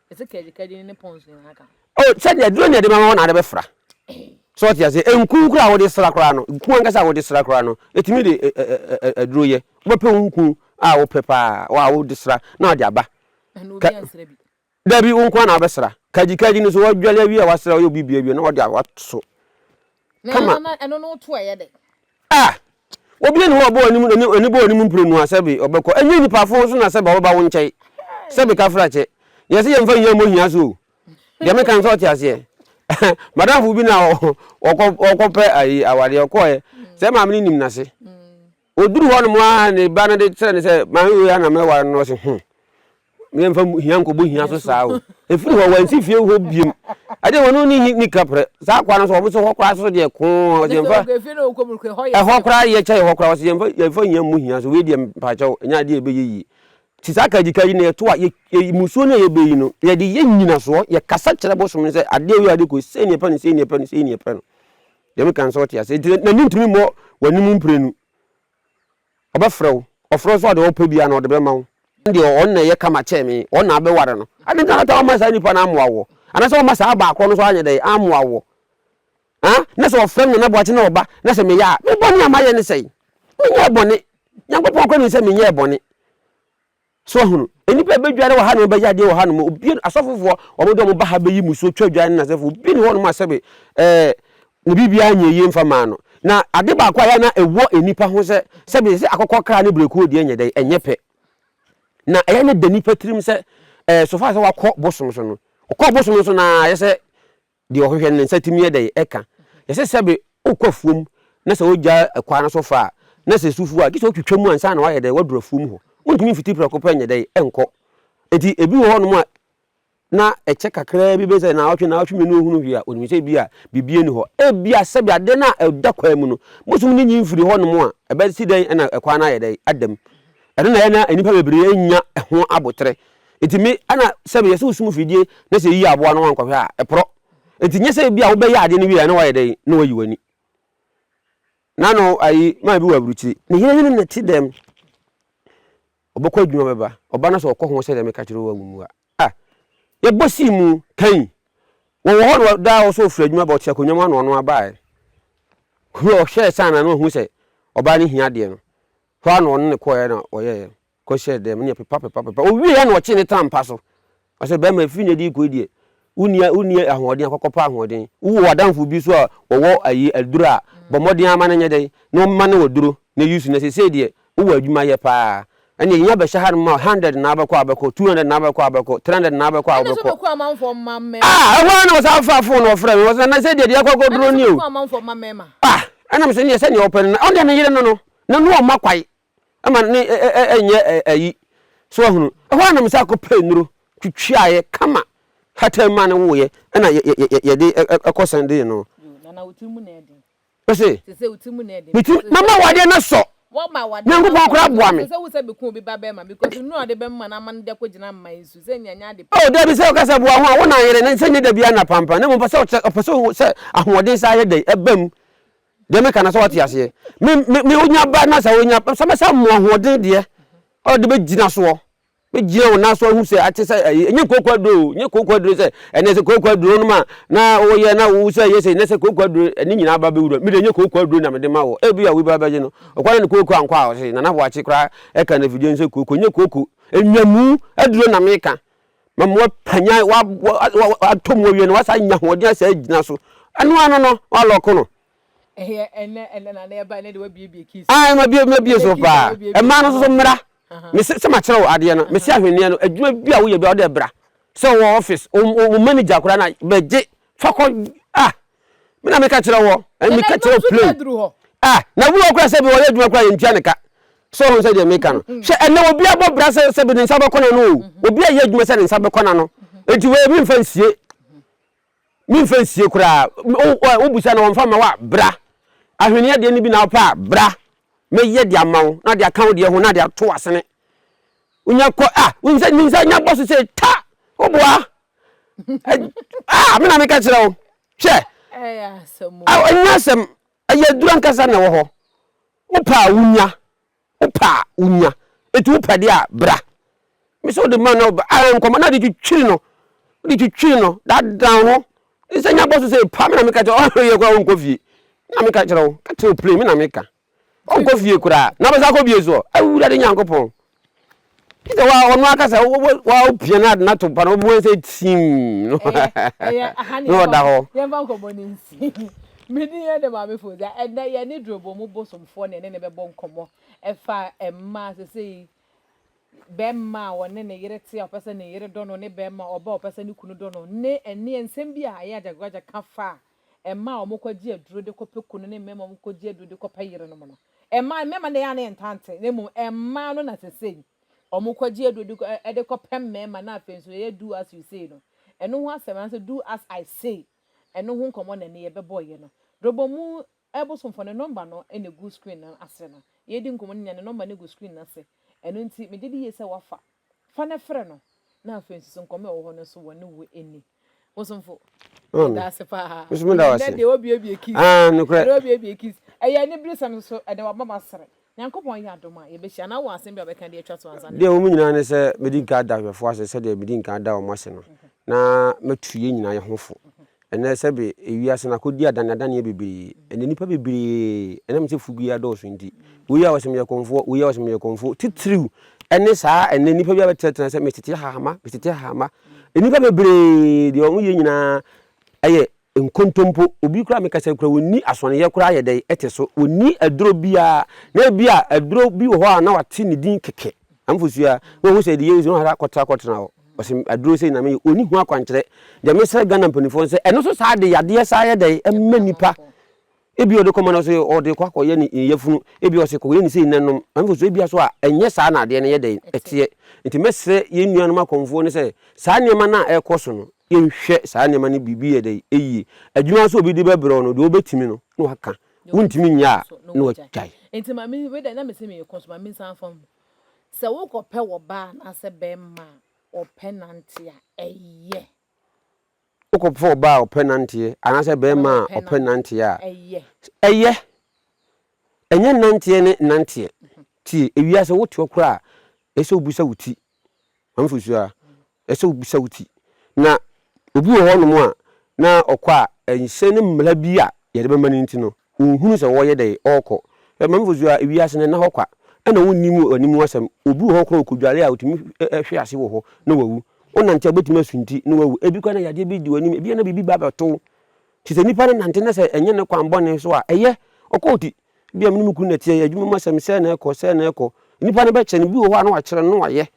Ɛsɛ kɛdekɛde no ne pɔns nyinaa ka ho. Oh, sɛdeɛ aduro na yɛde bɛma hɔ na ade bɛfra. So ɔte ase? Nku koraa a wode sra koraa no, nku ankasa a wode sra koraa no, ɛtumi de ɛ, ɛ, ɛ, ɛ, aduro yɛ. Wobɛpɛ wo nku a wopɛ paa a wode sra na wode aba. Ɛna obi ansra bi. Dabi, wo nko ara na wobɛsra. Kɛdekɛde no, so wadwale awie a wasra, wayɛ obi bi awie na wode a, wato so. Kama. A! Obi nni hɔ a ɔbɔ w'anim, n'ani, n'ani bɔ w'anim mprenu a sɛbe ɔbɛkɔ. Ɛnyɛ nnipa fo nso na sɛbe ɔbɛba wo nkyɛn. Sɛbe kafrakyɛ. Yɛn se yɛmfa nnya mmɔ hia so o. Deɛ meka no sɛ ɔte aseɛ. Madamfo bi na ɔkɔ, ɔkɔpɛ ayi awadeɛ, ɔkɔɛ. Sɛ maame no nim n'ase. Ɔduruu hɔnom ara na ne ba no de kyerɛɛ no sɛ, Maame wei ara na mɛware no. Na ɔse, Ho! Yɛmfa hia nkɔbɔ hia so saa o. Ɛfiri hɔ, wansi fie hɔ biom. Ɛdeɛ wɔne wo ne ni kaprɛ. Saa akoa no so, wɔn so hɔ koraa so deɛ koo a, ɔse yɛmfa, ɛhɔ koraa yɛ kyɛn hɔ koraa, ɔse yɛmfa, yɛmfa hia mmɔ hia so, wei deɛ mpakyɛ wo, ɛnyɛ adeɛ a ɛbɛyɛ yie. Nti saa kagyikayi no yɛto a, yɛ, yɛ, mmusuo no a yɛbɛyi no, yɛde yɛ nnyinasoɔ, yɛkasa kyerɛ bosom no sɛ, adeɛ wei, adeɛ koi, sei na yɛpɛ no, sei na yɛpɛ no, sei na yɛpɛ no. Deɛ meka no sɛ wote aseɛ? Nti na mentumi mmɔ w'anim mprenu. Ɔbɛfrɛ wo, ɔfrɛ wo so a deɛ ɔpɛ biara na ɔde bɛma wo. Ɛne deɛ ɔno na ɛyɛ kama kyɛn me, ɔno na abɛware no. Adɛn nti na woata wamma saa nipa no ammoa woɔ? Anaasɛ wamma saa baa korɔ no nso anyɛ dɛn ammoa woɔ? Haa? Na sɛ ɔfrɛ me Nana Boakye na ɔba na sɛ meyɛ a, me bɔne a mayɛ ne sɛn? Menyɛɛ bɔne. Nyankopɔn koraa nim sɛ menyɛɛ bɔne. So wahunu? Nnipa bɛdware wɔ ha nom, bɛyɛ adeɛ wɔ ha nom, obie, asɔfofoɔ, wɔn de wɔn ba ha bɛyi musuo, twa dwan ne nasɛfoɔ, obi ne hɔ nom a sɛbe, ɛɛ, ne biribiara nyɛ yie mfa maa no. Na ade baako a yɛ na ɛwɔ nnipa ho sɛ, sɛbe, sɛ akokɔkra ne brɛkuo deɛ nyɛ dɛn, ɛnyɛ pɛ. Na ɛyɛ na da nnipa tirim sɛ, ɛɛ, so far sɛ wakɔ bosom so no, ɔkɔ bosom so no ara, yɛ sɛ Deɛ ɔhwehwɛ no, ne nsa tumi yɛ dɛn? Ɛka. Yɛse sɛbe wokɔ afuom na sɛ wogya ɛkwan no so fa a, na sɛ esu fu a, gye sɛ wotwitwa mu ansa na wayɛ dɛn? Waduru afuom hɔ. Wontumi mfiti prɛko pɛ nyɛ dɛn? Nkɔ. Enti ebi wɔ hɔnom a na ɛkyɛ kakraa bi, bɛyɛ sɛ naawɔtwe, naawɔtwe mmienu a ɔhunu hwee a, ɔnim sɛ ebi a biribi nni hɔ. Ebia sɛbe adeɛ no a ɛda kwan mu no, bosom no nyin firi hɔnom a, ɛbɛsi dɛn na ɛkwan no ayɛ dɛn? Ada mu. Ɛno na ɛyɛ na nnipa bebree nnya ho aboterɛ. Enti me na sɛ meyɛ sɛ wo sum fidie na sɛ yiyɛ aboa no wankɔhwɛ a ɛporɔ. Enti nyɛ sɛ ebi a wobɛyɛ adeɛ no wieɛ na wayɛ dɛn na wayi w'ani. Na no ayi maa bi wɔ aburukyiri. Ne yere ne no na ɛte dɛm. Ɔbɛkɔ adwuma bɛba. Ɔba no sɛ ɔkɔ ho sɛdeɛ meka kyerɛ wo amumu a. Ah! Yɛbɔ sii mu kan. Wɔwɔ hɔ no daa wɔ sɛ ɔfiri adwuma ba ɔte akonnwa mu a na ɔno abaaɛ. Hwɛ ɔhwɛɛ sɛ ana na wahu sɛ ɔbaa no hia adeɛ no. Hɔ a na ɔne no kɔeɛ na wɔyɛeɛ. kɔhyɛɛ dɛm ne pepapepapepa. Ɔwieeɛ na ɔkyee ne tam mpa so. Ɔsɛ bɛrima ɛfiri nnɛ de rekɔ yi deɛ, wonni wonni ahoɔden a kɔkɔpɛ ahoɔden. Wowɔ w'adamfo bi nso a ɔwɔ ayi aduro a, bɔ mmɔden ara ma no nyɛ dɛn, na ɔmma no aduro na use. Na seesei deɛ, wowɔ adwuma yɛ pa ara. Ɛnneɛ yɛnya bɛhyɛ hanom a, hundred na wobɛkɔ a wobɛkɔ, two hundred na wobɛkɔ a wobɛkɔ, three hundred na wobɛkɔ a wobɛkɔ. Ɛnna sɛ ɔbɛkɔ amanfoɔ mma mmarima. Ah! Ɛhɔ ara na ɔsan faa phone na ɔfrɛɛ me. Ɔse, Nase deɛ, deɛ yɛrekɔ akɔduro nie o. Ɛnna sɛ ɔbɛkɔ amanfoɔ mma mmarima. Ah! Ɛnna mese, Neɛ sɛdeɛ wopɛ no na. Ɔno deɛ, me yere no no, na na ɔmma kwae. ɛma ne nyɛ ayi, so wahunu. Ɛhɔ ara na me nsa kɔpɛɛ nnuro twitwiaeɛ kama hataa mu maa no woeɛ, ɛna yɛde kɔ sɛndee no. Ɔse, Metim, mama awadeɛ no asɔ, Nyankopɔn koraa boa me. Oh, dabi, sɛ woka sɛ boa ho a, wo na yere no, sɛ nyɛ dabiara na pampan, na mmom pɛ sɛ ɔpɛ sɛ ɔhu sɛ ahoɔden saa yɛ dɛn ɛbam. Deɛ meka no sɛ wate aseɛ. Me me me wonya ba na sɛ wonya sɛ mɛ sɛ mo ahoɔden deɛ ɔde bɛgyina soɔ bɛgyina wɔn nan so ahu sɛ ate sɛ ɛyi nye kooko aduro o nye kooko aduro sɛ ɛnɛ sɛ kooko aduro no ma na woyɛ na wo sɛ yɛ sɛ ɛnɛ sɛ kooko aduro ɛne nyinaa ba bɛwura mi de nye kooko aduro na mede ma wɔ ebi a wobi abɛgye no ɔkwan ne kooko ankɔ a ɔse nana boakye koraa ɛka na fidie no sɛ kooko nye kooko enyamu aduro na meka Ma ma wapanyan, wa, wa, wa, wa, atɔ mu awie no, wasa anya ahoɔden asa agyina so. Ɛno ano no, walɔko no. Ɛyɛ ɛnɛ, ɛnɛ na na ɛba, ɛnɛ de wabiebie kii so. Ah, ɛma bie, ɛma bie so paa. Ɛmaa no nso so mmra. Mese sɛ makyerɛ wo adeɛ no, mese ahwenneɛ no, adwuma bi a woyɛ bi a wode ɛbra. Sɛ wɔ office, wo manager koraa na bɛgye, fa kɔ, ah, me na meka kyerɛ wɔ ɛne meka kyerɛ plain ah na wura kora sɛ bi wɔyɛ adwuma kora yɛntua ne ka sɛ ɔho sɛ deɛ meka no mm-hmm. hwɛ ɛnɛ obi abɔ bra sɛ sɛ bi ne nsa bɛkɔ na no o mm-hmm. obi ayɛ adwuma sɛ ne nsa bɛkɔ na no enti wei memfa nsie memfa nsie koraa wobusa na wɔmfa ma wo a bra ahweneɛ deɛ no bi na wopɛ a bra mɛyɛ de ama wo na de aka wo deɛ ho na de ato asene wonya kɔ a wonim sɛ nya bɔ so sɛ ta woboa ah me na me ka kyerɛ wo hwɛ ɛnyɛ asɛm ɛyɛ aduru ankasa na ɛwɔ hɔ wopɛ a wonya wopɛ a wonya ɛti wopɛ deɛ a bra me sɛ wode ma na woba ah, nkɔmmɔ na de twitwiri no wode twitwiri no dadan ho ne sɛ nya bɔ so sɛ pa me na meka kyerɛ ɔyɛ kora wonkɔ fie me na meka kyerɛ wo ka kyerɛ wo plane me na meka Ɔnkɔ fie koraa, na ɔbɛsan akɔ bio nso ɔ? Awurade Nyankopɔn! Gye sɛ wa, ɔno ankasa, wo, wo, wa wopia no ade no ato mpa no, wobɛhu sɛ tiim no. Ɛyɛ, ɛyɛ, aha ne Na yɛmfa ɔda nkɔ, hɔ. yɛmfa nkɔmmɔ no nsi. Me din yɛ de Maame Fozia. Ɛnnɛ yɛne Durobɔ mu bosomfoɔ na yɛne no bɛbɔ nkɔmmɔ ɛfa mmaa sesei, bɛrima a ɔne ne yere te a ɔpɛ sɛ ne yere dɔ no ne bɛrima ɔba a ɔpɛ sɛ ne kunu dɔ no ne ɛneɛ nsɛm bi a ɛyɛ agyagwaagya ka fa a mmaa a wɔkɔgye aduro de kɔpɛ kunu ne mmarima a wɔkɔgye aduro de kɔpɛ yerenom no. Mmaa, mmarima na ɛyɛ a na yɛntaa nte, na mmom mmaa no na sesei wɔkɔgye aduro de kɔ, de kɔpɛ mmarima na afei nso ɛyɛ do as you say no. Ɛno ho asɛm anaasɛ do as I say, ɛno ho nkɔmmɔ na ɛnnɛ yɛbɛbɔeɛ no. Dobomu Bosomfo ne nɔmba no na ɛgu screen no ase no. Yɛredi nkɔmmɔ no nyinaa ne nɔmba no gu screen no ase. Ɛno nti, megye di yie sɛ woafa Fa no frɛ no, na afei nso so nkɔmmɔ a ɛwɔ hɔ no nso wɔ ne wo ani. Bosomfo, yɛda ase paa. Nso mo da ase. Ɛnɛ deɛ obiebie keys. Ah, nokorɛ. Ɛnɛ obiebie keys. Ɛyɛ aniberesɛm nso, ɛde waba ma sere. Nyankopɔn yɛ adom a, yɛbɛhyia. Anaa wɔ asɛm bi a wobɛka de atwa to ansa na. Deɛ ɛwɔ mu nyinaa ne sɛ mɛdi nka ada ahwɛfoɔ ase sɛdeɛ medi nka ada wɔn ase no, na matu yɛn nyinaa yɛ ho fo. Ɛnnɛ, sɛbe wiase no akodi adaneadaneɛ bebree, na nnipa bebree, ɛnam sɛ fugu yi adɔɔso nti, woi a ɔse meyɛ kɔmfoɔ, woi a ɔse meyɛ kɔmfoɔ, titiriw ne saa a ɛnnɛ nnipa bi abɛtenatena sɛ metete hahama, metete hahama. Nnipa bebree deɛ wɔn yɛ nyinaa yɛ nkontompo. Obi koraa meka sɛ koraa wɔnni asɔneyɛ koraa yɛ dɛn te so, wɔnni aduro biara, na ebi a aduro bi wɔ hɔ a na wɔate ne din kɛkɛ. Amfo sua, na wɔhu sɛ deɛ yɛhu sɛ na wɔhata kɔtra kɔtena hɔ. Ɔsɛ aduro sɛ nyinaa meyɛ, ɔni ho akwankyerɛ. Deɛ mesrɛ Ghana mpanimfoɔ sɛ ɛno so saa de yadeɛ saa yɛ dɛn ɛma nnipa. Ebi ɔde kɔma no sɛ ɔde kɔ akɔyɛ ne yafunu, ebi ɔsɛ kɔyɛ ne sei na nom. Amfo sua ebi so a ɛnyɛ saa na adeɛ no yɛ dɛn ɛteɛ. Nti mɛsrɛ yɛn nuanom akɔmfoɔ no sɛ saa nneɛma no a ɛrekɔ so no yɛnhwɛ saa nneɛma no biribi yɛ dɛn ɛyie. Adwuma nso a obi de bɛbrɛ wo no deɛ wobɛtumi no na waka. wontumi nyɛ a na wɔagyae. Wokɔpɛ ɔbaa a ɔpɛ nanteɛ anaasɛ barima a ɔpɛ nanteɛ a, ɛyɛ. Ɛnyɛ nanteɛ ne nanteɛ. Tie, ewiase woteɔ koraa a, ɛsɛ wobisa wo ti Ahofusu a ɛsɛ sɛ wubisa wo ti. Na obi wɔ hɔnom a na ɔkɔ a, ɛnhyɛ ne mmara bi a yɛde bɛma no nti no, onhunu sɛ ɔreyɛ dɛn, ɔrekɔ. M'ahofusu a wiase no nna hɔ kwa. Ɛnna wonni mu ani mu asɛm. Obi wɔ hɔ koraa a okodware a, otumi hwe ase wɔ hɔ na wawu. Wonante a, wubetumi asunti na wawu. Ebi koraa na yadeɛ bi di w'anim. Ebia na biribi ba abɛto wo. Te sɛ nnipa no nante na sɛ ɛnyɛ ne kwan bɔne so a, ɛyɛ, ɔkɔ ti. Ebia me ne me kunu na ɛte yɛ adwuma mu asɛm sɛ na ɛkɔ sɛ na ɛkɔ. Nipa no bɛkyɛ no bi wɔ hɔ a na wakyerɛ no na wayɛ.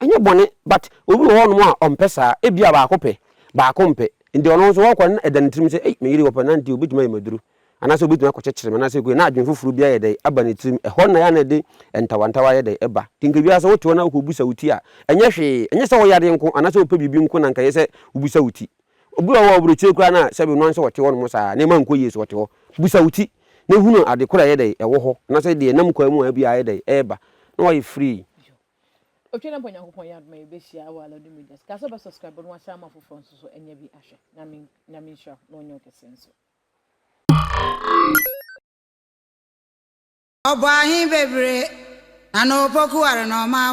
Ɛnyɛ bɔne but obi wɔ hɔnom a ɔmpɛ saa. Ebia baako pɛ, baako mpɛ. Nti ɔno nso ɔkɔ no na ɛda ne tirim sɛ ei me yere ɔpɛ na nti obetumi ayɛ me aduru. Anaasɛ obetumi akɔkyekyere me anaasɛ ekue na adwene foforo bi ayɛ dɛn aba ne tirim. Ɛhɔ na ɛyɛ a na ɛde ntawantawa ayɛ dɛn ɛba. Nti nka biara sɛ wote hɔ na wokɔ bisa wo ti a ɛnyɛ hwee. Ɛnyɛ sɛ ɔyɛ adeɛ nko anaasɛ ɔpɛ biribi nko na nka ɛyɛ sɛ wobisa wo ti. Obi wɔ hɔ a ɔwɔ aburokyire koraa no a sɛbi ɔno ankasa ɔte hɔnom saa nneɛma ankɔ yie so ɔte hɔ. Busa wo ti na hunu ade korɔ a ɛyɛ dɛn ɛwɔ hɔ anaasɛ deɛ ɛnam kwan mu a ɛbi ayɛ dɛn ɛreba na wayɛ free. Otwa na mpo Nyankopɔn yɛ adom a yɛbɛhyia wɔ Aladu Media so. Ka sɛ wobɛ subscribe na wahyɛ ama foforɔ nso so anya bi ahwɛ. Nyame Nyame nhyira wo na ɔnyɛ wo kɛseɛ nso. Ɔbɔɔ ahe bebree, na na ɔpɔku ware na ɔmaa